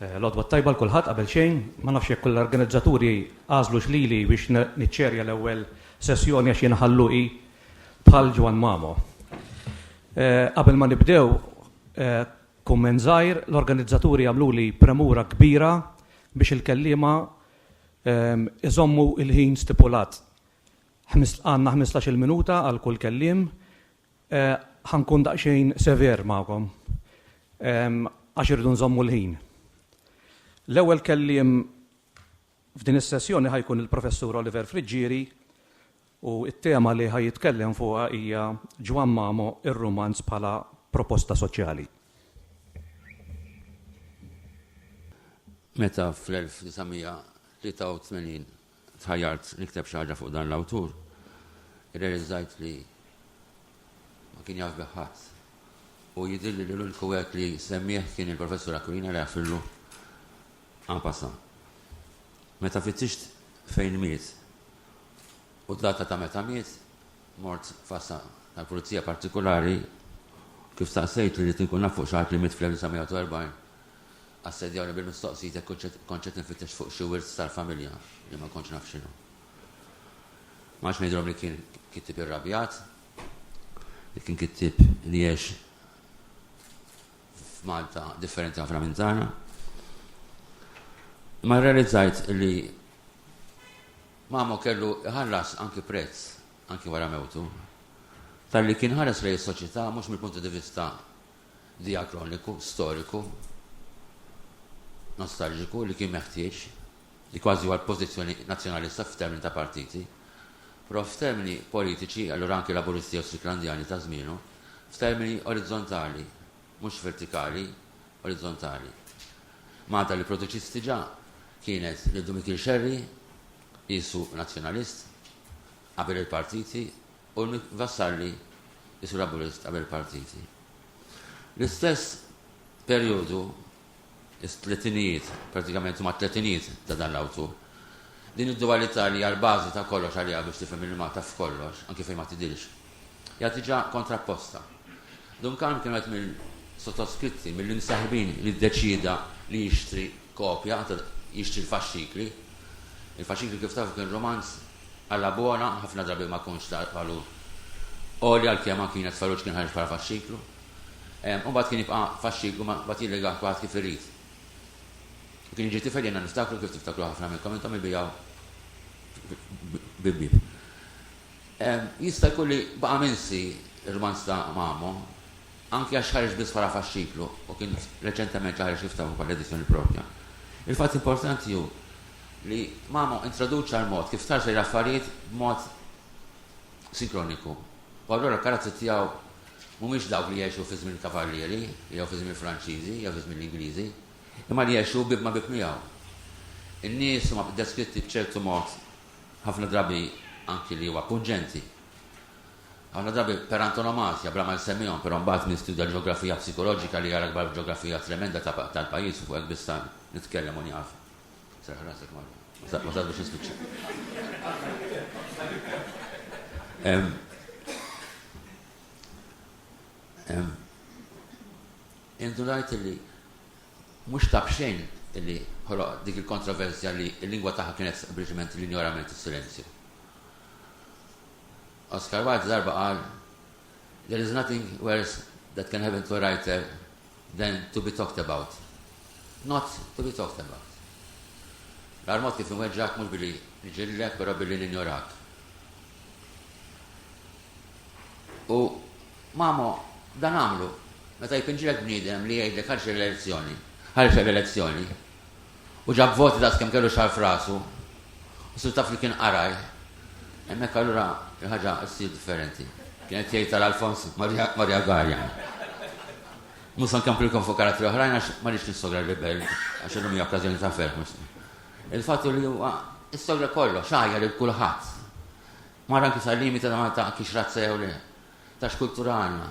Eh, L-odwa tajba l-kulħadd qabel xejn, ma nafx jekk l-organizzaturi għażlu xlili biex niċċerja l-ewwel sessjoni għax jien ħalluqi bħal Ġwan Mamo. Eh, qabel ma nibdew eh, kummen żgħir, l-organizzaturi għamlu li premura kbira biex il-kellima ehm, iżommu il-ħin stipulat. Ħmis, Għandna ħmistax-il minuta għal kull kelliem. Eh, Ħa nkun daqsxejn sever magħkom ehm, għax irridu nżommu l-ħin. L-ewwel kelliem f'din is-sessjoni ħajkun il-Professur Oliver Friggieri u t-tema li ħaj jitkellem fuqha hija Ġwan Mamo ir-rumanz bħala proposta soċjali. Meta fl-1983 tħajjart nikteb xi ħaġa fuq dan l-awtur, irrealizzajt li ma kien jaf bih ħadd. U jidhirli li l-uniku wieħed li semmieh kien il-Professur Aquilina li għarfillu en passant. Meta fittixt fejn miet u d-data ta' meta miet, mort fassa tal-Pulizija partikulari kif staqsejt li rrid inkun naf fuq xi ħadd li miet fl-1940. Assedjawni bil-mistoqsijiet jekk kontx qed infittex fuq xi wirt tal-familja li ma kontx naf x'inhu. Ma għadx ngħidilhom li kien kittieb irrabjat, li kien kittieb li għex f'Malta differenti ħafna minn tagħna. Imma rrealizzajt li Mamo kellu jħallas anki prezz, anki wara mewtu, talli kien ħares lejn is-soċjetà mhux mill-puntu di vista diakroniku, storiku, nostalġiku li kien meħtieġ, li kważi huwa l-pożizzjoni Nazzjonalista f'termini ta' partiti, però f'termini politiċi, allura anki Laburisti jew Stricklandjani ta' żmienu, f'termini orizzontali, mhux vertikali, orizzontali. Malta li produċiet diġà kienet lil Dumikil Xerri, qiesu Nazzjonalist, qabel il-partiti u Nick Vassalli isur abolist qabel il-partiti. L-istess perjodu, it-tletinijiet, prattikament huma t-tletinijiet ta' dan l-awtur, din id-duwalità li hija l-bażi ta' kollox għaliha biex tifhem il-Malta f'kollox, anki fejn ma tidhirx. hija diġà kontrapposta. Duncan kienu qed mill-sottoskritti, mill-imseħbin li ddeċieda li jixtri kopja, jixtri l-faxxikli. Il-faxxikli kif tafu kien rumanz alla buona, ħafna drabi ma kunx ta' valur għoli għalkemm anki Jnez Farruġ kien ħareġ bħala faxxiklu. U mbagħad kien jibqa' faxxiklu ma mbagħad jillegah kulħadd kif irid. U kien jiġi tifel jenna niftakru kif tiftakru ħafna minnkom intom ibijgħu bib-bib. Jista' jkun li baqa' minsi r-rumanz ta' Mamo, anki għax ħareġ biss bħala faxxiklu u kien reċentement li ħareġ jiftaħru bħala edizzjoni proprja. Il-fatt importanti hu li Mamo introduċa l-mod kif tħares lejn l-affarijiet b'mod sinkroniku u allura l-karattri tiegħu mhumiex dawk li jgħixu fi żmien il-Kavallieri jew fi żmien il-Franċiżi jew fi żmien l-Ingliżi, imma li jgħixu bieb ma' bieb miegħu. In-nies huma deskritti b'ċertu mod ħafna drabi anki li huwa punġenti, ħafna drabi per antonomasia, bla ma jsemmihom, però mbagħad min studja l-ġeografija psikoloġika li jara l-kbar ġeografija tremenda tal-pajjiż u fuq hekk biss nitkellem u nieqaf. Serraħ rasek Marja. Ma sar biex nispiċċa. Indunajt li Mhux ta' b'xejn li ħoloq dik il-kontroversja li l-lingwa tagħha kienet sempliċement l-injorament, is-silenzju. Oscar Wilde darba qal, There is nothing worse that can happen to a writer than to be talked about. Not to be talked about. L-armot kif inweġġak mhux billi nġillek, però billi ninjorak. U Mamo, dan agħmlu, meta jpinġilek bniedem li jgħidlek ħarġ l-elezzjoni, ħarġha l-elezzjoni, u ġab voti daqs kemm kellu xagħar f'rasu, u sirt taf li kien qaraj, hemmhekk allura il-ħaġa ssir differenti. Kien qed jgħid għal Alfons Maria Garjan. Mhux se nkomprilkom fuq karattri oħrajn għax ma rridx nissogra l-Ribell, għax illum hija okkażjoni ta' ferħ. Il-fatt li huwa issogra kollox, għajja lil kulħadd. Mar anki sal-limiti ta' Malta kienx razza jew le, ta' x'kultura għandna.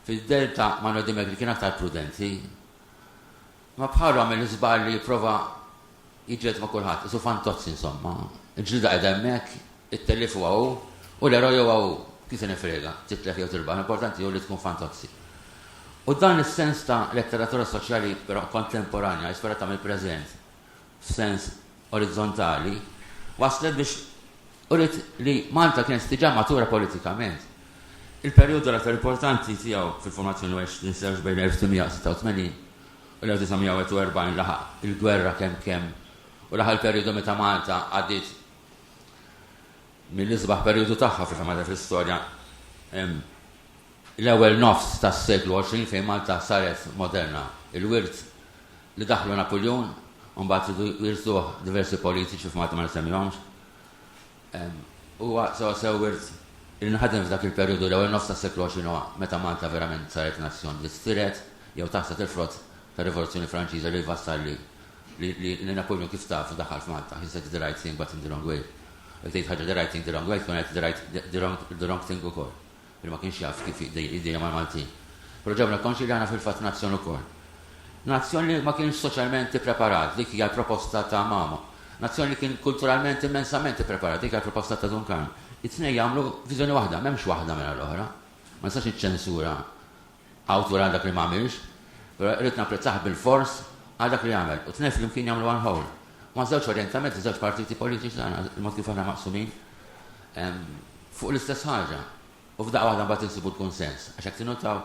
Fid-Delta Manuel Demetri kien aktar prudenti. Ma bħalu għamel l-iżball li jipprova jiġġieled ma' kulħadd, qisu fantozzi insomma. Il-ġlieda qiegħda hemmhekk, it-tellif huwa hu, u l-eroj huwa hu. Kif se nifrega, titlef jew tirbaħ, l-importanti hu li tkun fantozzi. U dan is-sens ta' letteratura soċjali però kontemporanja, ispirata mill-preżent, f'sens orizzontali, wasslet biex uriet li Malta kienet diġà matura politikament. Il-perjodu l-aktar importanti tiegħu fil-formazzjoni huwa għex ninsewx bejn 1886 u l-1941 laħaq il-gwerra kemm kemm u laħaq il-perjodu meta Malta għaddiet mill-isbaħ perjodu tagħha fil-fema ta' fl-istorja L-ewwel nofs tas-seklu 20 fejn Malta saret moderna. Il-wirt li daħħlu Napuljun u mbagħad ridu jirsuh diversi politiċi f'Malta ma nissemmihomx, huwa sewwasew wirt li nħadem f'dak il-perjodu, l-ewwel nofs tas-seklu 20 huwa meta Malta verament saret nazzjon li sttirhet jew taħsad il-frott tar-Rivoluzzjoni Franċiża li wassal li li li Napuljun kif tafu daħħal f'Malta. He said the right thing but in the wrong way. Jekk tgħid ħaġa the right thing the wrong way tkun għedt the right the wrong the wrong thing ukoll. li ma kienx jaf kif jiddejjem mal-Maltin. Però ġabna konxji li aħna fil-fatt nazzjon ukoll. Nazzjon li ma kienx soċjalment ippreparat, dik hija l-proposta ta' Mamo. Nazzjon li kien kulturalment immensament ippreparat, dik hija l-proposta ta' Dun Karm. It-tnejn jagħmlu viżjoni waħda, m'hemmx waħda mingħajr l-oħra. Ma nistax niċċensura Hawn turi għal dak li ma għamilx, però irrid napprezzah bilfors għal dak li għamel. U t-tnejn flimkien jagħmlu one whole. Huma ż-żewġ orjentamenti ta' żewġ partiti politiċi tagħna, il-mod kif aħna maqsumin, fuq l-istess ħaġa. U f'daqqa waħda mbagħad insibu l-kunsens. Għax jekk tinnotaw,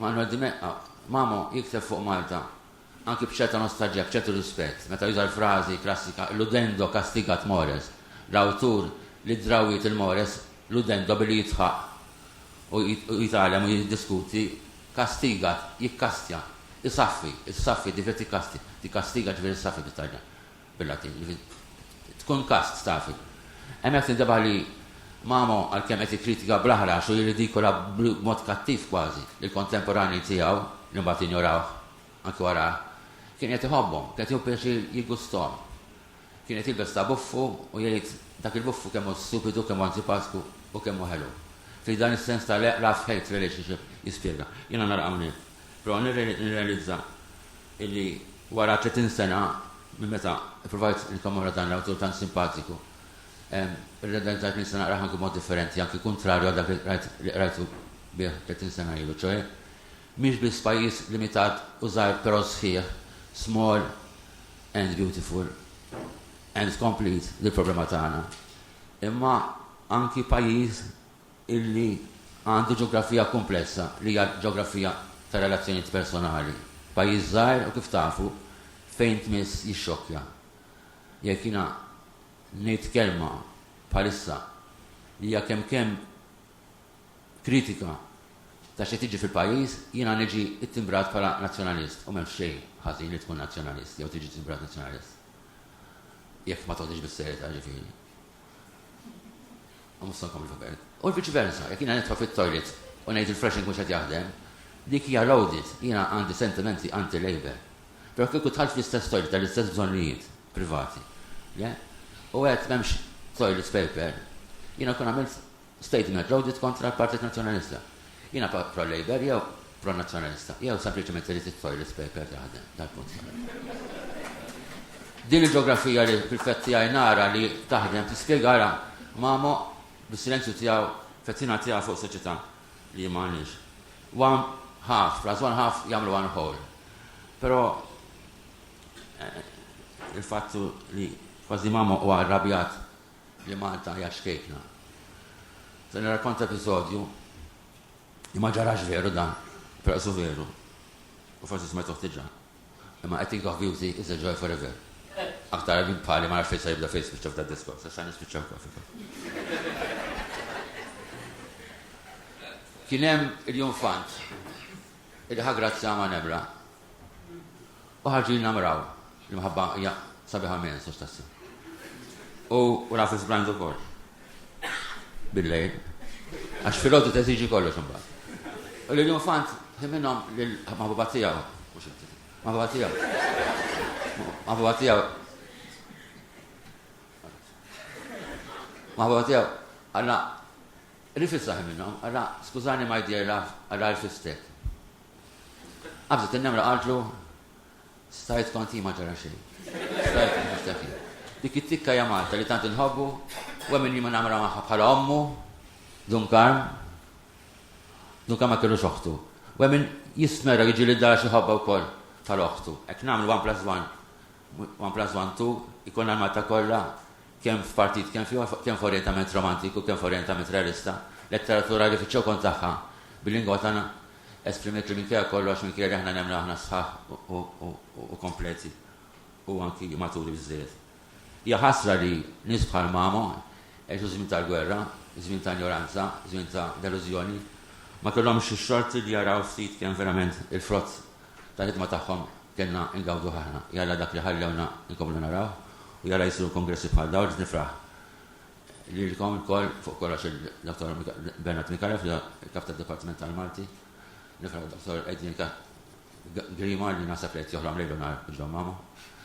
Manuel Dimech, Mamo jikteb fuq Malta anki b'ċerta nostalġija, b'ċertu rispett, meta juża l-frażi klassika ludendo castigat mores, l-awtur li ddrawwiet lil mores ludendo billi jidħaq u jitgħallem u jiddiskuti, castigat jikkastja, isaffi, issaffi, jiġifieri tikkastja, tikkastiga jiġifieri issaffi bit-Taljan. bil-Latin, jiġifieri tkun kast, stafi. Hemm hekk tintebaħ li Mamo, għalkemm qed jikkritika bl-aħrax u jirridikola b'mod kattiv kważi lill-kontemporanji tiegħu li mbagħad injorawh anki wara, kien qed iħobbhom, kien qed jieħu pjaċir jiggusthom. Kien qed jilbes ta' buffu u jgħid, Dak il-buffu kemm hu stupidu, kemm hu antipatku u kemm hu ħelu. Fih dan is-sens ta' love-hate relationship, jispjega. Jiena nara hawnhekk. Però nirrealizza illi wara tletin sena minn meta ippruvajt nikkommemora dan l-awtur tant simpatiku, irrealizzajt li nista' naqrah anki b'mod differenti, anki kuntrarju għal dak li rajt li qrajtu bih tletin sena ilu, ċoħe mhix biss pajjiż limitat u żgħir però sħiħ, small and beautiful and complete, li l-problema tagħna, imma anki pajjiż, illi għandu ġeografija kumplessa li hija l-ġeografija ta' relazzjonijiet personali. Pajjiż żgħir u kif tafu, fejn tmiss jixxokkja. Jekk jiena ngħid kelma bħalissa li hija kemmkemm kritika ta' x'qed jiġi fil-pajjiż, jiena niġi ttimbrat bħala nazzjonalist u m'hemmx xejn ħażin li tkun nazzjonalist jew tiġi timbrat nazzjonalist. Jekk ma toħdix bis-serjetà, ġifieri. U mhux se nkompli f'Berk. U l-viċi versa, jekk jiena nidħol fit-toilet u ngħid il-flash mhux qed jaħdem, dik hija loaded, jiena għandi sentimenti anti-Labour. Però kieku dħalt fl-istess toilet għall-istess bżonnijiet privati, le? U għedt m'hemmx toilet paper, jiena nkun għamilt statement loaded kontra l-Partit Nazzjonalista. Jiena pro-Labour jew pro-Nazzjonalista, jew sempliċement irrid it-toilet paper taħdem, dal-punt kellu. Din il-ġeografija li fil-fett tiegħi nara li taħdem tispjegara Mamo bis-silenzju tiegħu fettina tiegħu fuq soċjetà li ma għandniex. One half, plus one half jagħmlu one whole. Però eh, il-fattu li kważi Mamo huwa arrabjat li Malta hija xkejkna. Se nirrakkonta episodju li ma ġarax veru dan, però su veru. U forsi smajtuh diġà. Imma I think of beauty is a joy forever. Aktar minn bħali ma nafx fejn se jibda fejn spiċċa f'dan diskors, għax għan nispiċċa wkoll. Kien hemm il-jum fant il-ħagrazzja ma' nebra. U ħarġin namraw, l-imħabba hija sabiħa mens għax tassi. U raf iżbrand ukoll. Billejl. Għax filgħodu teżiġi kollox imbagħad. U li l-infant ħiminhom lil maħbuba tiegħu. Maħbuba tiegħu. Maħbuba tiegħu. Maħbuba tiegħu. Alla, rifissaħi minnhom, alla, skużani ma jdejla, alla rfistek. Qabżet in-nemra qaltlu, Stajt kont hi ma ġara xejn. Stajt niftaħ hi. Dik it-tikka hija Malta li tant inħobbu u hemm min ma nagħmilha magħha bħala ommu, Dun Karm. Dun Karm ma kellux oħtu. U hemm min jistmera jiġi lid dar xi ħobba wkoll tal-oħtu. Hekk nagħmlu one plus one, one plus one two, ikollna l-Malta kollha kemm f'partit kemm f'ieħor, kemm f'orjentament romantiku, kemm f'orjentament realista, letteratura li fiċ-ċokon tagħha bil-lingwa tagħna esprimiet li minkejja kollox, minkejja li aħna nemmnu aħna sħaħ u kompleti u anki maturi biżżejjed. Hija ħasra li nies bħal Mamo għexu żmien tal-gwerra, żmien ta' injoranza, żmien ta' delużjoni, ma kellhomx ix-xorti li jaraw ftit kemm verament il-frott tal-ħidma tagħhom Kellna ngawduh aħna, jalla dak li ħallewna nkomplu naraw u jalla jsiru kongressi bħal dawn biex nifraħ lilkom ilkoll, fuq kollox il-Dottor Bernard Micallef li hu l-Kap tad-Dipartiment tal-Malti. Nifraħ lid-Dottor Adrian Grima li naħseb li qed joħlom lejl u nhar ġo Mama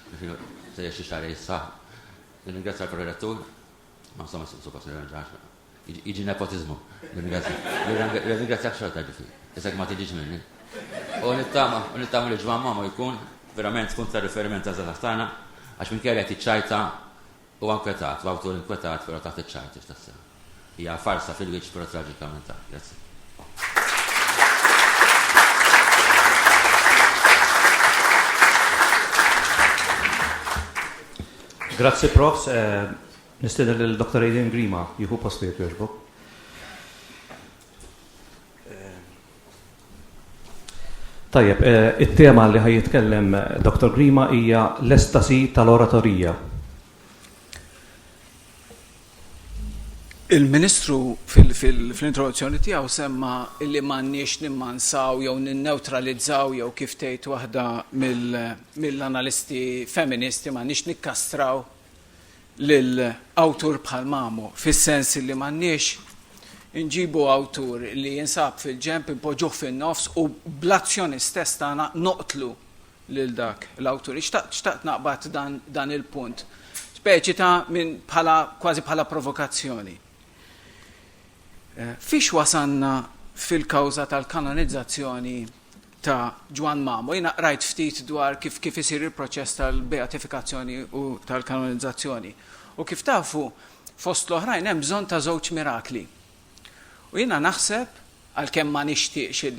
biex ilu se jgħix xi xahar jisħaq. Nirringrazzja l-Prorettur, ma insomma suppost nirringrazzja Iġi nepotizmu. Ringrazzjak xorta ġifi. Isek ma tiġiġ minni. U nittama, u nittama li ġvan mama jkun verament tkun ta' riferiment ta' zazax tagħna għax minn kelli tiċċajta u għankwetat, u għawtur inkwetat pero ta' tiċċajta x'tassew. Hija farsa fil-wiċċ pero traġikament ta' grazzi. Grazzi profs, eh, Nistieden lil Dr. Adrian Grima jieħu postu jekk jogħġbu. Tajjeb, eh, it-tema li ħaj jitkellem eh, Dr. Grima hija l-estasi tal-oratorija. Il-Ministru fil-introduzzjoni tiegħu semma li m'għandniex nimmansaw jew ninneutralizzaw jew kif tgħid waħda mill-analisti feministi m'għandniex nikkastraw lil awtur bħal Mamo, fis-sens li m'għandniex inġibu awtur li jinsab fil-ġenb inpoġġuh fin-nofs u bl-azzjoni stess tagħna noqtlu lil dak l-awtur. Xtaqt xtaqt naqbad dan dan il-punt. Speċi ta' minn bħala kważi bħala provokazzjoni. Eh, fiex wasanna fil-kawża tal-kanonizzazzjoni ta' Ġwann Mamo. Jiena qrajt ftit dwar kif kif isir il-proċess tal-beatifikazzjoni u tal-kanonizzazzjoni. U kif tafu, fost l-oħrajn hemm bżonn ta' żewġ mirakli. U jiena naħseb, għalkemm ma nixtieqx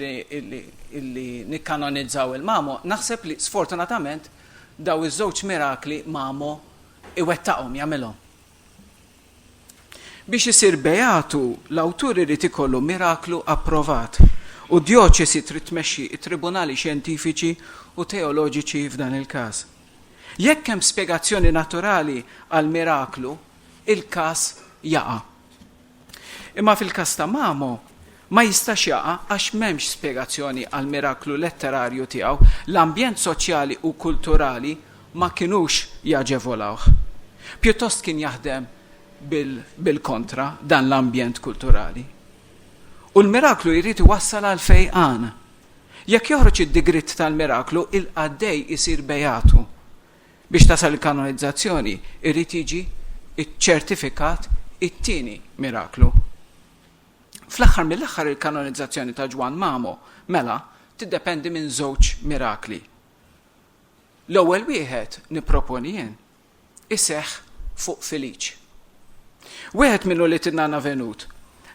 illi nikkanonizzaw il-Mamo, naħseb li sfortunatament daw iż-żewġ mirakli Mamo iwettaqhom, jagħmilhom. Biex isir beatu, l-awtur irid ikollu miraklu approvat, u d-djoċesi trid tmexxi t-tribunali xjentifiċi u teoloġiċi f'dan il-każ. Jekk hemm spjegazzjoni naturali għall-miraklu, il-każ jaqa'. Imma fil-każ ta' Mamo, ma jistax jaqa' għax m'hemmx spjegazzjoni għall-miraklu letterarju tiegħu, l-ambjent soċjali u kulturali ma kinux jaġevolawh. Pjuttost kien jaħdem bil-kontra dan l-ambjent kulturali. U l-miraklu jrid iwassal għall-fejqan. Jekk joħroġ id-digriet tal-miraklu, il-qaddej isir bejatu. Biex tasal il-kanonizzazzjoni jrid jiġi ċċertifikat it-tieni miraklu. Fl-aħħar mill-aħħar il-kanonizzazzjoni ta' Ġwann Mamo, mela, tiddependi minn żewġ mirakli. L-ewwel wieħed, nipproponi jien, iseħħ fuq Filiċ. Wieħed minnu li tinnana venut,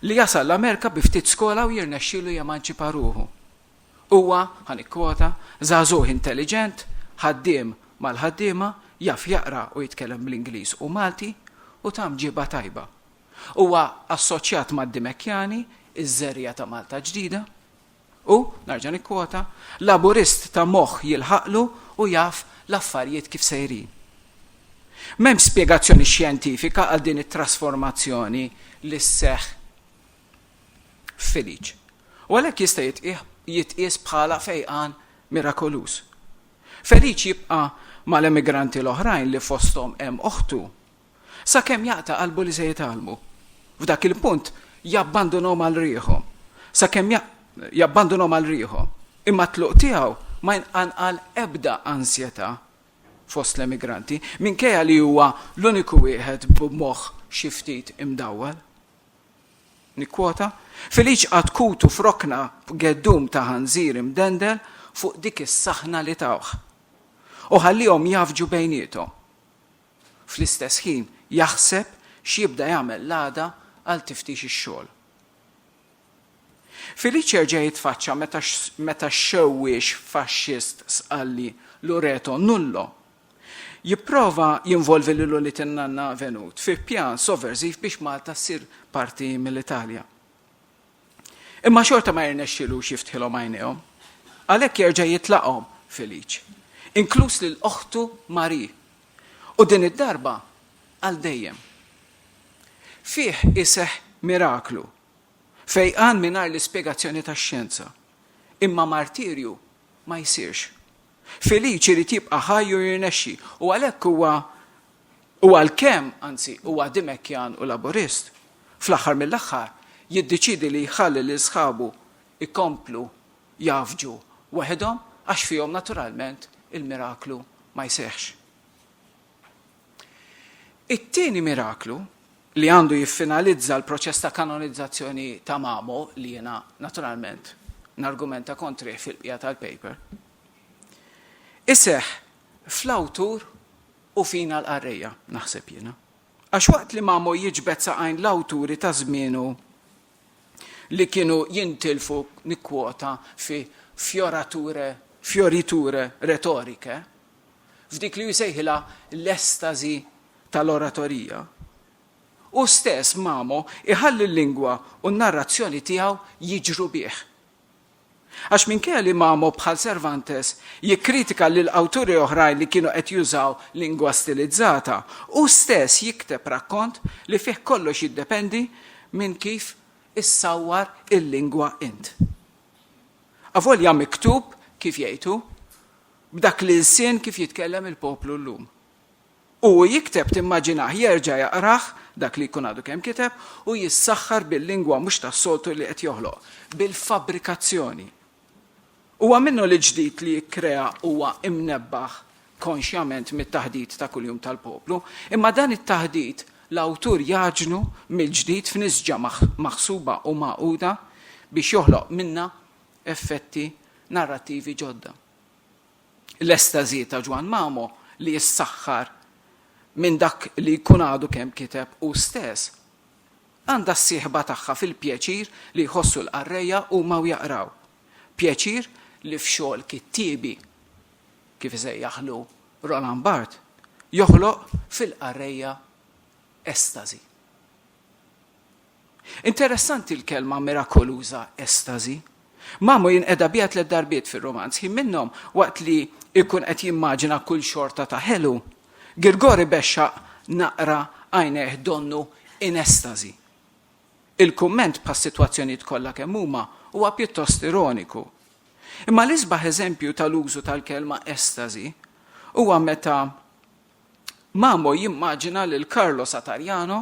li jasal l-Amerika bi ftit skola u jirnexxielu jemanċipa ruħu. Huwa, ħa nikkwota, żagħżugħ intelliġent, ħaddiem mal-ħaddiema, jaf jaqra u jitkellem bl-Ingliż u Malti, u ta' mġiba tajba. Huwa assoċjat mad-Dimekkjani, iż-żerriegħa ta' Malta Ġdida. Hu, nerġa' nikkwota, Laburist ta' moħħ jilħaqlu u jaf l-affarijiet kif sejrin. M'hemmx spjegazzjoni xjentifika għal din it-trasformazzjoni li sseħħ feliċ, u għalhekk jista' jitqies bħala fejqan mirakoluż. Feliċ jibqa' mal-emigranti l-oħrajn li fosthom hemm oħtu, sakemm jaqta' qalbu li se jitgħallmu. F'dak il-punt jabbandunhom għal riħhom, sakemm jabbandunhom għal riħhom, imma t-tluq tiegħu ma jqanqal ebda ansjetà fost l-emigranti, minkejja li huwa l-uniku wieħed b'moħħ xi ftit imdawwal. Nikkwota, Feliċ qagħad kutu f'rokna b'geddum ta' ħanżir imdendel fuq dik is-saħna li tawh u ħalliehom jgħaffġu bejniethom. Fl-istess ħin jaħseb x'jibda jagħmel l-għada għal tiftix ix-xogħol. Feliċ jerġa' jitfaċċa meta x-xewwiex faxxist Sqalli Lureto Nullo Jipprova jinvolvi lil ulied in-nanna Venut fi pjan soverżiv biex Malta ssir parti mill-Italja. Imma xorta ma jirnexxilux jiftħilhom għajnejhom. Għalhekk jerġa' jitlaqhom Felice, inkluż lil oħtu Marie, u din id-darba għal dejjem. Fih iseħħ miraklu, fejqan mingħajr l-ispjegazzjoni tax-xjenza, imma martirju ma jsirx. Felice irid jibqa' ħaj u jirnexxi, u għalhekk huwa u għalkemm, anzi, huwa Dimekkjan u Laburist, fl-aħħar mill-aħħar jiddeċiedi li jħalli lil sħabu jkomplu jgħaffġu waħedhom għax fihom naturalment il-miraklu ma jseħħx. It-tieni miraklu, li għandu jiffinalizza l-proċess ta' kanonizzazzjoni ta' Mamo, li jiena naturalment nargumenta kontrih fil-bqija tal-paper, iseħħ fl-awtur u fina l-qarrejja, naħseb jiena. Għax waqt li Mamo jiġbed saqajn l-awturi ta' żmienu li kienu jintilfu, nikkwota, fi fiorature, fioriture retoricae, f'dik li hu jsejħilha l-estażi tal-oratorija, hu stess, Mamo, iħalli l-lingwa u n-narrazzjoni tiegħu jiġru bih. Għax minkejja li Mamo bħal Cervantes jikkritika lil awturi oħrajn li kienu qed jużaw lingwa stilizzata, hu stess jikteb rakkont li fih kollox jiddependi minn kif issawwar il-lingwa int. Avolja miktub, kif jgħid hu, B'dak l-ilsien kif jitkellem il-poplu llum. U hu jikteb timmaġinah jerġa' jaqrah, dak li jkun għadu kemm kiteb, u jissaħħar bil-lingwa mhux tas-soltu li qed joħloq, bil-fabbrikazzjoni. Huwa minnu li l-ġdid li jikkrea huwa imnebbaħ konxjament mit-taħdit ta' kuljum tal-poplu, imma dan it-taħdit l-awtur jgħaġnu mill-ġdid f'nisġa maħsuba u magħquda biex joħloq minnha effetti narrattivi ġodda. L-estażi ta' Ġwann Mamo li jissaħħar minn dak li jkun għadu kemm kiteb hu stess, għandha s-sieħba tagħha fil-pjaċir li jħossu l-qarrejja huma u jaqraw, pjaċir li f'xogħol kittiebi, kif isejjaħlu Roland Barthes, joħloq fil-qarrejja estażi. Interessanti l-kelma mirakoluża estażi. Mamo jinqeda biha tliet darbiet fir-rumanz, ħin minnhom waqt li jkun qed jimmaġina kull xorta ta' ħelu. Girgor ibexxaq naqra għajnejh donnu in estażi. Il-kumment bħas-sitwazzjonijiet kollha kemm huma huwa pjuttost ironiku. Imma l-isbaħ eżempju tal-użu tal-kelma estażi huwa meta Mamo jimmaġina lil Carlo Satariano,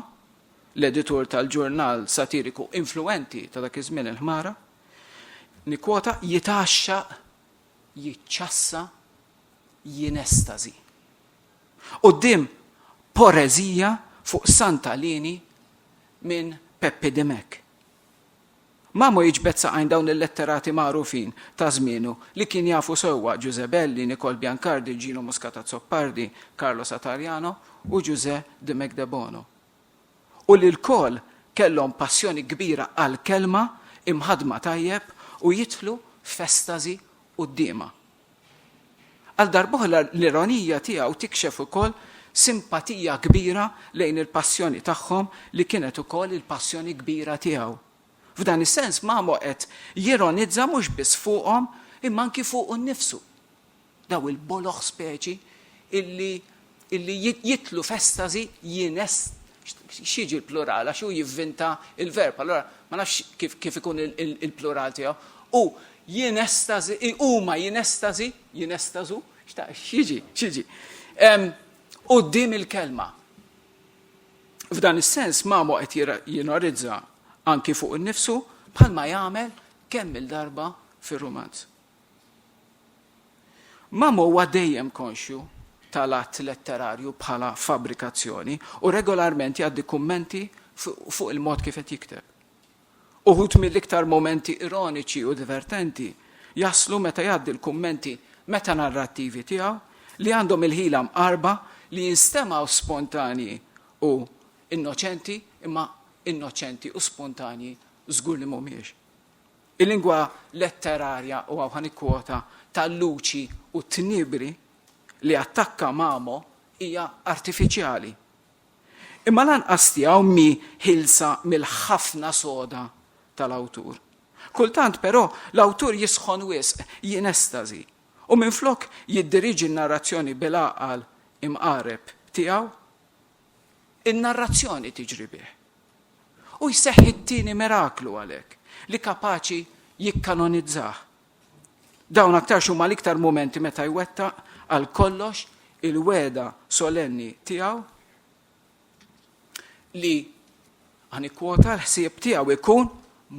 l-editur tal-ġurnal satiriku influwenti ta' dak iż-żmien il-Ħmara, nikkwota, jitgħaxxaq, jiċċassa, jinestażi. Quddiem poreżija fuq Santa Lini minn Peppi Dimech. Mamo jiġbed saqajn dawn il-letterati magħrufin ta' żmienu li kien jafu sewwa, Ġużè Belli, Nikol Biancardi, Ġinu Muscat Azzopardi, Carlo Satariano u Ġużè Dimech Debono. U li lkoll kellhom passjoni kbira għall-kelma imħaddma tajjeb u jidħlu f'estażi quddiemha. Għal darb'oħra l-ironija tiegħu tikxef ukoll simpatija kbira lejn il-passjoni tagħhom li kienet ukoll il-passjoni kbira tiegħu. F'dan is-sens Mamo qed jironizza mhux biss fuqhom imma anki fuqu nnifsu, daw il-boloh speċi illi illi jidħlu f'estażi jinest x'jiġi l-plural għax hu jivvinta l-verb, allura ma nafx kif ikun il-plural tiegħu. U jinestażi, huma jinestażi, jinestażu, x'jiġi, x'jiġi. Quddiem il-kelma. F'dan is-sens Mamo qed jinorizza anki fuq innifsu bħalma jagħmel kemm il-darba fir-rumanz. Mamo huwa dejjem konxju tal-att letterarju bħala fabbrikazzjoni u regolarment jgħaddi kummenti fuq il-mod kif qed jikteb. Uħud mill-iktar mumenti ironiċi u divertenti jaslu meta jgħaddi l-kummenti metanarrattivi tiegħu li għandhom il-ħila mqarrba li jinstemgħu spontanji u innoċenti imma innoċenti u spontanji żgur li mhumiex. Il-lingwa letterarja, u hawn ħa nikkwota, ta' Luċi u Tnibri li attakka Mamo hija artifiċjali. Imma lanqas tiegħu mhi ħielsa mill-ħafna soda tal-awtur. Kultant, però, l-awtur jisħon wisq, jinestażi, u minflok jiddiriġi n-narrazzjoni bil-għaqal imqareb tiegħu, in-narrazzjoni tiġri bih. U jseħħ it-tieni miraklu għalhekk, li kapaċi jikkanonizzah. Dawn aktarx huma l-iktar mumenti meta jwettaq għal kollox il-wegħda solenni tiegħu li għanikwota l-ħsieb tiegħu ikun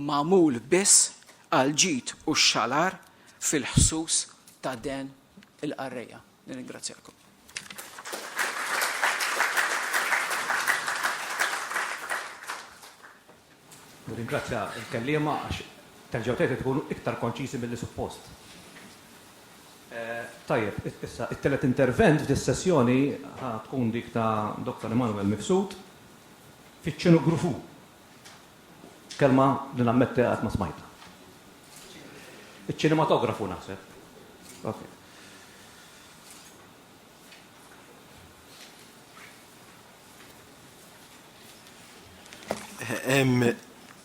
mamul biss għal ġid u xalar fil-ħsus ta' den il-qarreja. Nirringrazzjakom. Nirringrazzja l-kelliema għax terġgħu tgħid tkunu iktar konċiżi milli suppost. Tajjeb, issa it-tielet intervent f'dis-sessjoni ħa tkun dik ta' Dottor Emmanuel Mifsud fiċ-ċinu Grufu. Kelma li nammetti qatt ma smajtha. Iċ-ċinematografu naħseb. Okay.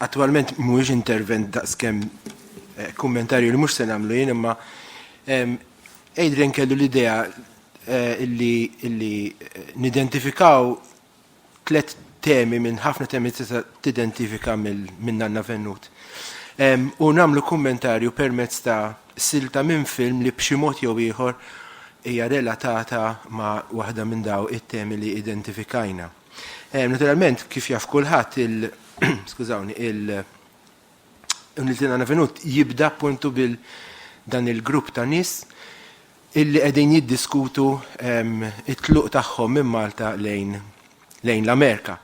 Attualment mhuwiex intervent daqskemm eh, kummentarju li mhux se nagħmlu jien imma Adrian kellu l-idea eh, illi eh, nidentifikaw tliet temi minn ħafna temi tista' tidentifika minn Nanna Vennut. U nagħmlu kummentarju permezz ta' silta minn film li b'xi mod jew ieħor hija relatata ma' waħda minn daw it-temi li identifikajna. Naturalment, kif jaf kulħadd il- skużawni, il- Niltina Navenut jibda appuntu bil dan il-grupp ta' nis illi qegħdin jiddiskutu t-tluq tagħhom minn Malta lejn l-Amerika.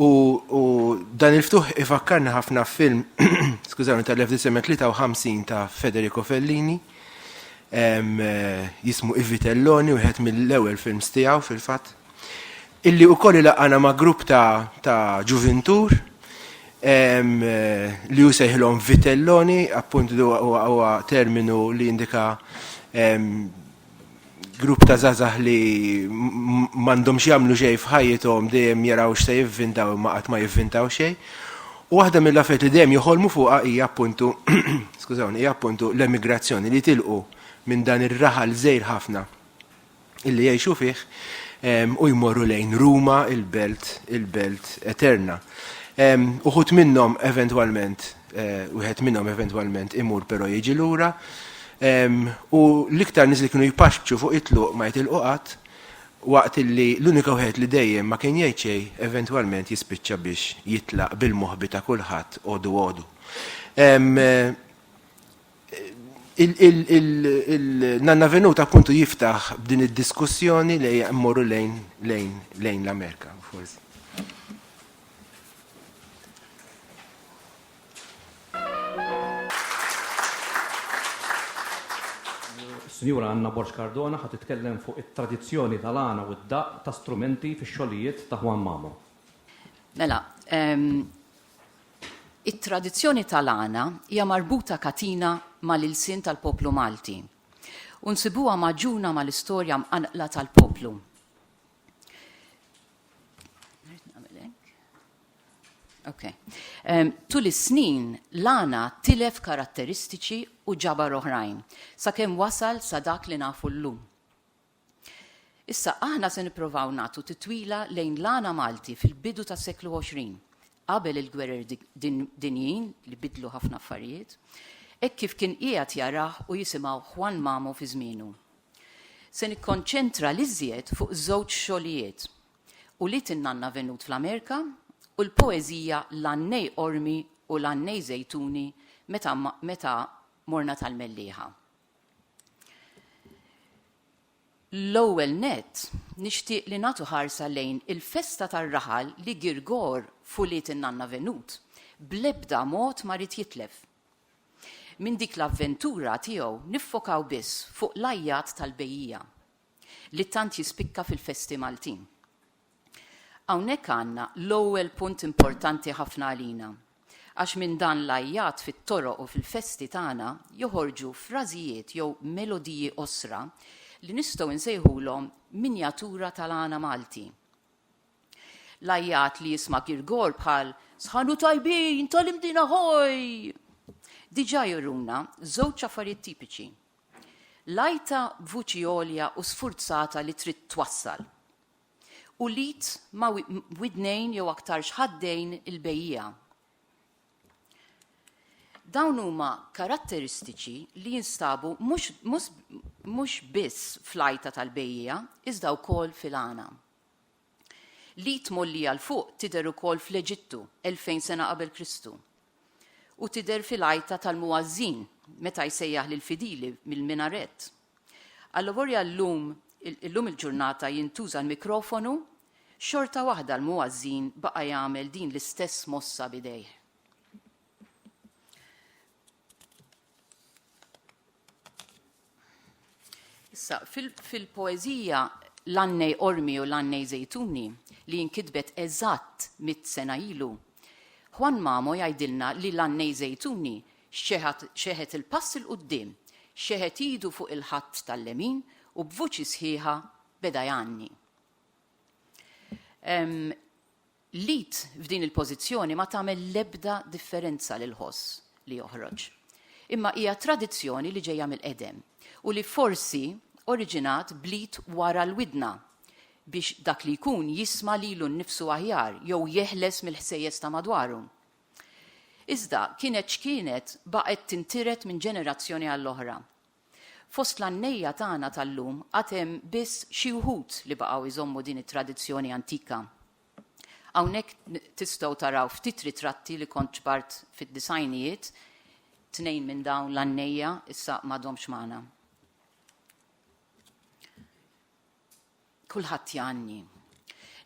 U dan il-ftuħ ifakkarni ħafna f'film, skużawni, tal-1953 ta' Federico Fellini, jismu I Vitelloni, wieħed mill-ewwel films tiegħu fil-fatt. illi wkoll ilaqgħana ma' grupp ta' ta' ġuvintur em, li hu sejħilhom vitelloni, appunt li huwa- huwa huwa terminu li jindika em, grupp ta' żgħażagħ li m- m'għandhomx jagħmlu xejn f'ħajjithom dejjem jaraw x'se jivvintaw imma qatt ma jivvintaw xejn. U waħda mill-affarijiet li dejjem joħolmu fuqha hija appuntu skużawni hija appuntu l-emigrazzjoni li jitilqu minn dan ir-raħal żgħir ħafna illi jgħixu fih u jmorru lejn Ruma, il-belt, il-belt eterna. Uħut minnhom eventwalment, eh, wieħed minnhom eventwalment imur però jiġi lura, u l-iktar nies li kienu jpaxxu fuq it-tluq ma jitilqu qatt, waqt illi l-unika wieħed li dejjem ma kien jgħid xejn, eventwalment jispiċċa biex jitlaq bil-moħbi ta' kulħadd għodu għodu. Il-nanna venuta appuntu jiftaħ b'din id-diskussjoni li jemmorru lejn lejn lejn l-Amerika, forsi. Sinjura Anna Borx Cardona ħat titkellem fuq it-tradizzjoni tal-għana u d-daq ta' strumenti fix-xogħlijiet ta' Juan Mamo. Mela, It-tradizzjoni tal-għana hija marbuta katina mal-ilsien tal-poplu Malti u nsibuha magħġuna mal-istorja mqanqla tal-poplu. Okay. Um, tul is-snin, l-għana tilef karatteristiċi u ġabar oħrajn, sakemm wasal sa dak li nafu llum. Issa, aħna se nipprovaw nagħtu titwila lejn l-għana Malti fil-bidu tas-seklu 20, qabel il-gwerer dinjin li biddlu ħafna affarijiet, hekk kif kien qiegħed jarah u jisimgħu Juan Mamo fi żmienu. Se nikkonċentra l-iżjed fuq żewġ xogħlijiet, Ulied in-Nanna Venut fl-Amerika u l-poeżija L-għannej qormi u l-għannej żejtuni meta meta morna tal-Mellieħa. L-ewwel nett, nixtieq li nagħtu ħarsa lejn il-festa tar-raħal li Girgor f'ulied in-nanna Venut bl-ebda mod ma ried jitlef. Minn dik l-avventura tiegħu niffokaw biss fuq l-għajjat tal-bejjiegħa, li tant jispikka fil-festi Maltin. Hawnhekk għandna l-ewwel punt importanti ħafna għalina, għax minn dan l-għajjat fit-toroq u fil-festi tagħna joħorġu frażijiet jew melodiji qosra li nistgħu nsejħulhom minjatura tal-għana Malti. L-għajjat li jisma' girgor bħal Sħan u tajbin tal-Imdien Ahoy! diġà juruna żewġ affarijiet tipiċi, l-għajta b'vuċi għolja u sfurzata li trid twassal, u l-id ma' widnejn jew aktarx ħaddejn il-bejjiegħa. Dawn huma karatteristiċi li jinstabu mhux biss fl-għajta tal-bejjiegħa iżda wkoll fil-għana. L-id mgħollija 'l fuq tidher ukoll fl-Eġittu elfejn sena qabel Kristu, u tidher fil-għajta tal-muważżin meta jsejjaħ lill-fidili mill-minarett. Allavolja llum illum il-ġurnata jintuża l-mikrofonu, xorta waħda l-muważżin baqa' jagħmel din l-istess mossa b'idejh. Issa, fil-poezija l-annej ormi u l-annej zejtuni li jinkitbet eżatt mit sena ilu, Juan Mamo jgħidilna li l-annej zejtuni xeħet il-pass il-qudiem, xeħet idu fuq il-ħatt tal-lemin u b'vuċi sħiħa beda jgħanni. L-id f'din il-pożizzjoni ma tagħmel l-ebda differenza lill-ħoss li joħroġ. Imma hija tradizzjoni li ġejja mill-qedem u li forsi oriġinat bl-id wara l-widna biex dak li jkun jisma' lilu nnifsu aħjar jew jeħles mill-ħsejjes ta' madwaru. Iżda, kienet x'kienet, baqgħet tintiret minn ġenerazzjoni għall-oħra. Fost l-għannejja tagħna tal-lum għad hemm biss xi wħud li baqgħu jżommu din it-tradizzjoni antika. Hawnhekk tistgħu taraw ftit ritratti li kont ġbart fid-disgħinijiet, tnejn minn dawn l-għannejja issa m'għadhomx magħna. Kulħadd jgħanni.